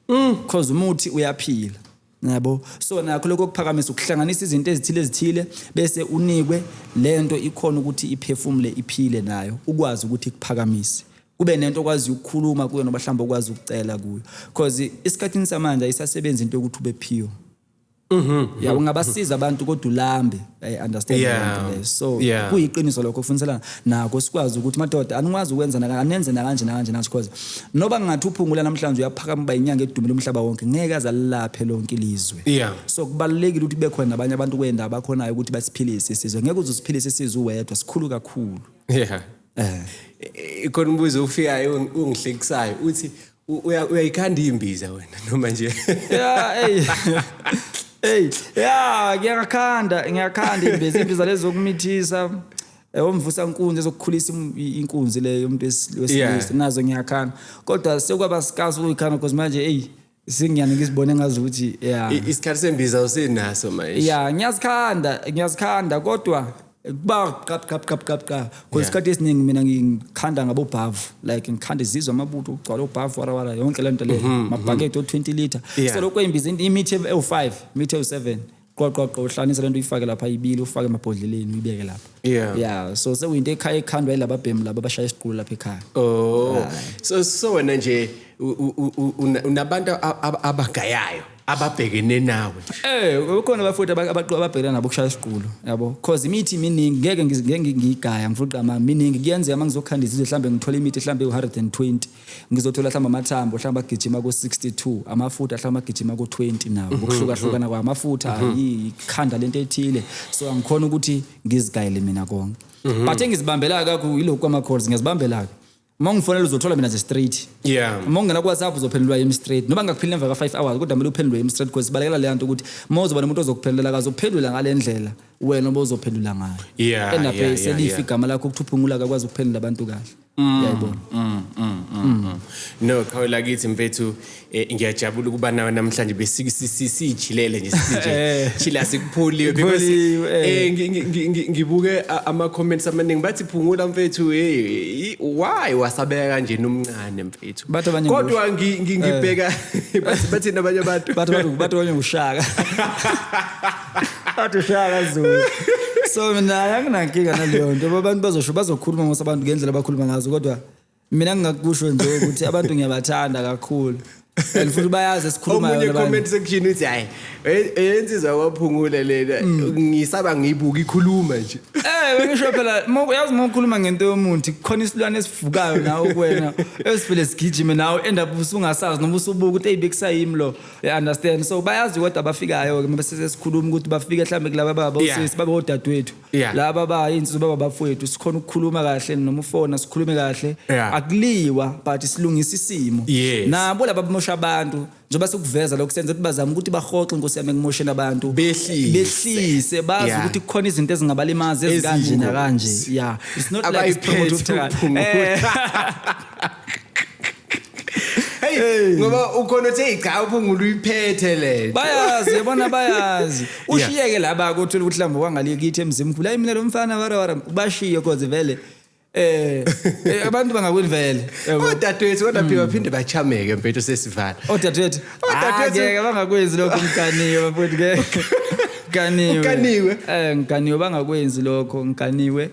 Mm. Cause umuthi uyaphila. Yabo. So nakho lokho kuphakamisa ukuhlanganisa izinto ezithile ezithile bese unikwe lento ikhona ukuthi iphefumule iphile nayo ukwazi ukuthi kuphakamise. Kube nento okwazi ukukhuluma kuyo noba mhlawumbe okwazi ukucela kuyo. Cause isikhathini samanje ayisasebenzi into yokuthi ubephiwe. Mhm. yabo ngabasiza abantu kodwa ulambe i understand Yeah. lento leyo. so Yeah. kuyiqiniso lokho kufuniselana nako sikwazi ukuthi madoda anikwazi ukwenza naka- anenze nakanje nakanje nakanje because noba ngathi uphungula namhlanje uyaphakama uba inyanga edumile umhlaba wonke ngeke aze alilaphe lonke ilizwe Yeah. so kubalulekile ukuthi kube khona nabanye abantu kwenda abakhonayo ukuthi basiphilise isizwe ngeke uze usiphilise isizwe uwedwa sikhulu kakhulu Yeah. Eh. Eh, khona umbuzo ofikayo ung- ungihlekisayo uthi uyayikhanda imbiza wena noma nje yeah hey hey yeah ngiyakhanda ngiyakhanda imbiza imbiza lezo kumithisa eh, omvusa inkunzi ezokukhulisa inkunzi le yomuntu wesilisa nazo ngiyakhanda kodwa sekwaba sikazi ukuyikhanda because manje hey singiyani ngisibone ngazi ukuthi yeah isikhathi sembiza usinaso manje yeah ngiyazikhanda ngiyazikhanda kodwa Ba qap qap qap qap qap. Because Yeah. isikhathi esiningi mina ngikhanda ngabobhavu. Like ngikhanda izizwa amabutho ukugcwala obhavu wara wara yonke le nto leyo. Mabhakede o 20 liter. Mm-hmm, Yeah. So lokho imbiza into imithi ev- ewu5, imithi ewu7. Qoqo qoqo uhlanisa lento uyifake lapha ibili ufake emabhodleleni uyibeke lapha. Yeah. Yeah, so sekuyinto ekhaya ekhandwa yilaba bhemu laba abashaya isiqulu lapha ekhaya. Oh. So so wena nje u- u- u- u- una- unabantu a- a- abagayayo. ababhekene nawe eh ukhona abafowethu ababhekana nabo kushaya isiqulo yabo cause imithi miningi ngeke ngeke ngigaya ngifuna mama miningi kuyenzeka uma ngizokhanda izizwe mhlambe ngithola imithi mhlambe u120 ngizothola mhlambe amathambo mhlambe agijima ko 62 amafutha mhlambe agijima ko 20 nawo mhm, ukuhluka hlukana mhm. kwamafutha mhm. yikhanda lento ethile so angikhona ukuthi ngizigayele mina konke but engizibambela kakho yilokho ama calls ngiyazibambela ke uma ungifonela uzothola mina ze straight yeah uma ungena kuwhatsapp uzophendulwa yimi straight noma ngingakuphendula emva ka-five hours kodwa kumele uphendulwe yimi straight because sibalekela leya nto ukuthi uma uzoba nomuntu ozokuphendulela kazophendula ngale ndlela wena oba uzophendula ngayo Yeah, endabe yeah, yeah, selifa yeah. igama lakho ukuthuphungula kakwazi ukuphendula abantu kahle yayibona no qhawe lakithi mfethu Eh, ngiyajabula ukuba nawe namhlanje besijilele nje eh. chila sikuphuliwe because eh, eh ngibuke ama comments amaningi bathi phungula mfethu hey why wasabeka kanje nomncane mfethu kodwa ngibheka bathi nabanye abantu bathi bathi abanye ushaka bathi ushaka zulu so mina anginankinga naleyo nto abantu bazosho bazokhuluma ngosabantu ngendlela abakhuluma ngazo kodwa mina ngingakusho nje ukuthi abantu ngiyabathanda kakhulu and futhi bayazi esikhulumayo omunye labanye. comment section uthi hayi e- eyensizwa kwaphungula lena Mm. ngisaba ngiyibuka ikhuluma nje Eh bengisho phela mo- yazi uma ukhuluma ngento yomuntu khona isilwane esivukayo nawe kuwena esivele sigijime nawe end up usungasazi noma usubuka ukuthi hey bekusayimi lo you understand so bayazi kodwa abafikayo ke mase sesikhuluma ukuthi bafike mhlambe kulaba baba Yeah. osisi babe odadewethu Yeah. laba ba insizwa baba bafowethu sikhona ukukhuluma kahle noma ufona sikhulume kahle Yeah. akuliwa but silungisa isimo Yes. nabo laba bamosha abantu njengoba sikuveza lokho senza ukuthi bazame ukuthi bahoxe inkosi yami ekumosheni abantu Behlise. behlise bazi Yeah. ukuthi kukhona izinto ezingabalimazi ezikanje Eziyingozi. nakanje yeah it's not like it's promote Abayiphethe ukuthakatha. uphunguthi. Eh. Hey, ngoba ukhona uthi hey cha uphungula uyiphethe le. bayazi yabona bayazi ushiyeke laba ke uthola ukuthi mhlawumbe wangale kithi emzimkhulu hayi mina lo mfana wara wara bashiye cause vele eh eh, abantu bangakweni vele yabo. Odadewethu kodwa phela baphinde bachameke mfethu sesivala. odadewethu Odadewethu- Ah, ngeke bangakwenzi lokho mkaniwe bafowethu ngeke ngiganiwe Ukaniwe? eh ngiganiwe bangakwenzi lokho ngiganiwe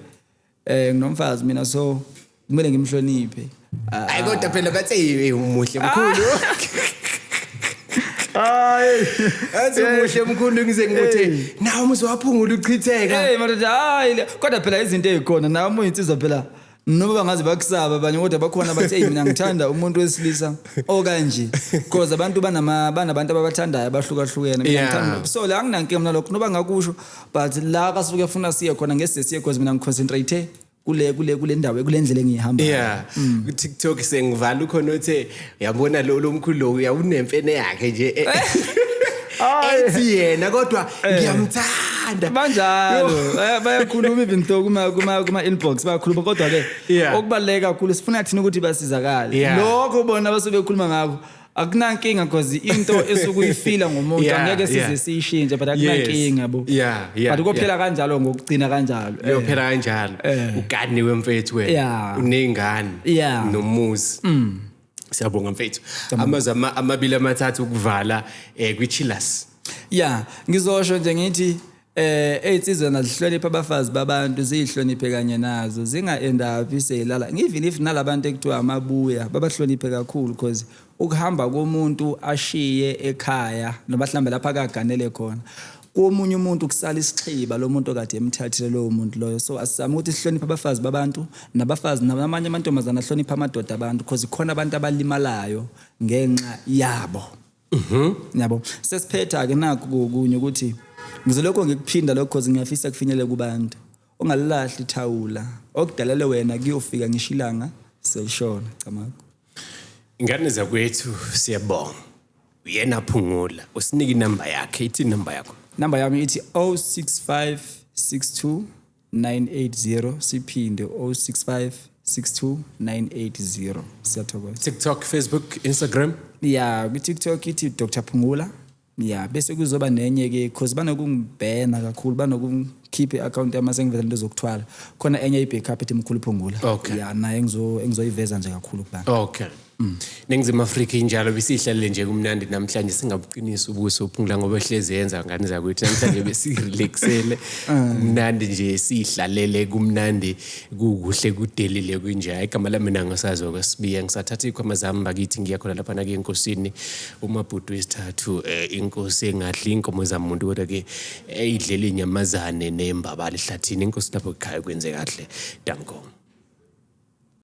eh nginomfazi mina so kumele ngimhloniphe hayi kodwa phela bathi hey umuhle mkhulu hayi athi umuhle mkhulu ngize ngikuthi nawe umuzi waphungula uchitheka hey madoda hayi le- kodwa phela izinto ezikhona nawe uma uyinsizwa phela noma bangaze bakusaba abanye kodwa bakhona bathi hey mina ngithanda umuntu wesilisa okanje because abantu banama banabantu ababathandayo abahlukahlukene mina Yeah. ngithanda so la anginankinga mina lokho noba ngakusho but la kasuke efuna siye khona ngese siye cause mina ngiconcentrate kule kule kule ndawo kule ndlela engihamba yeah mm. ku TikTok sengivala ukhona othe yabona lo lomkhulu lo uyawunemfene yakhe nje eh. ethi yena kodwa eh. ngiyamthanda banjalo eh, bayakhuluma even though kuma kuma kuma inbox bayakhuluma kodwa ke okubaleka kakhulu sifuna thina ukuthi basizakale lokho bona basuke bekhuluma ngakho akunankinga because into esukuyifila ngomuntu Yeah, angeke yeah. size siyishintshe but akunankinga yabo Yeah, yeah, but kophela yeah. kanjalo ngokugcina kanjalo Eh. uyophela kanjalo Eh. uganiwe mfethu wena Yeah. unengane Yeah. Mm. nomuzi siyabonga mfethu amazwi ama- amabili amathathu ukuvala um kwichilas ya ngizosho nje ngithi Eh ezinsizwa nazihlonipha abafazi babantu ziyihloniphe kanye nazo zinga end up seyilala even if nalabantu ekuthiwa amabuya babahloniphe kakhulu because ukuhamba komuntu ashiye ekhaya noma hlambe lapha akaganele khona komunye umuntu kusala isixhiba lo muntu okade emthathile lowo muntu loyo so asizame ukuthi sihloniphe abafazi babantu nabafazi namanye amantombazane ahloniphe amadoda abantu because khona abantu abalimalayo ngenxa yabo Mhm. Yabo. Sesiphetha ke naku kokunye ukuthi ngizolokho ngikuphinda lokho cause ngiyafisa kufinyele kubantu. Ungalilahli thawula. Okudalele wena kuyofika ngishilanga selishona camako. Ingane zakwethu siyabonga. Uyena phungula. Usinike inamba yakhe, ithi inamba yakho. Number yami ithi 06562 980 siphinde 065 62980 siyathokoza TikTok Facebook Instagram yeah ku TikTok ithi Dr Phungula yeah bese kuzoba nenye ke because banokungibhena kakhulu banokukhipha i-account yami sengiveza into zokuthwala khona enye i-backup ethi mkhulu phungula okay. yeah naye engizoyiveza nje kakhulu kubana okay Mm. Ningizimu Afrika injalo besihlalele nje kumnandi namhlanje singabuqinisa ubuso uphungula ngoba ehlezi yenza ngani zakwethu namhlanje besirelaxele ah. kumnandi nje sihlalele kumnandi kukuhle kudelile kunje igama lami mina ngosazi okwesibiya ngisathatha ikhwama zami bakithi ngiya khona lapha nake enkosini umabhudu wesithathu eh, inkosi engadli inkomo zamuntu kodwa ke eyidlela eh, inyamazane nembabali hlathini inkosi lapho ekhaya kwenze kahle danko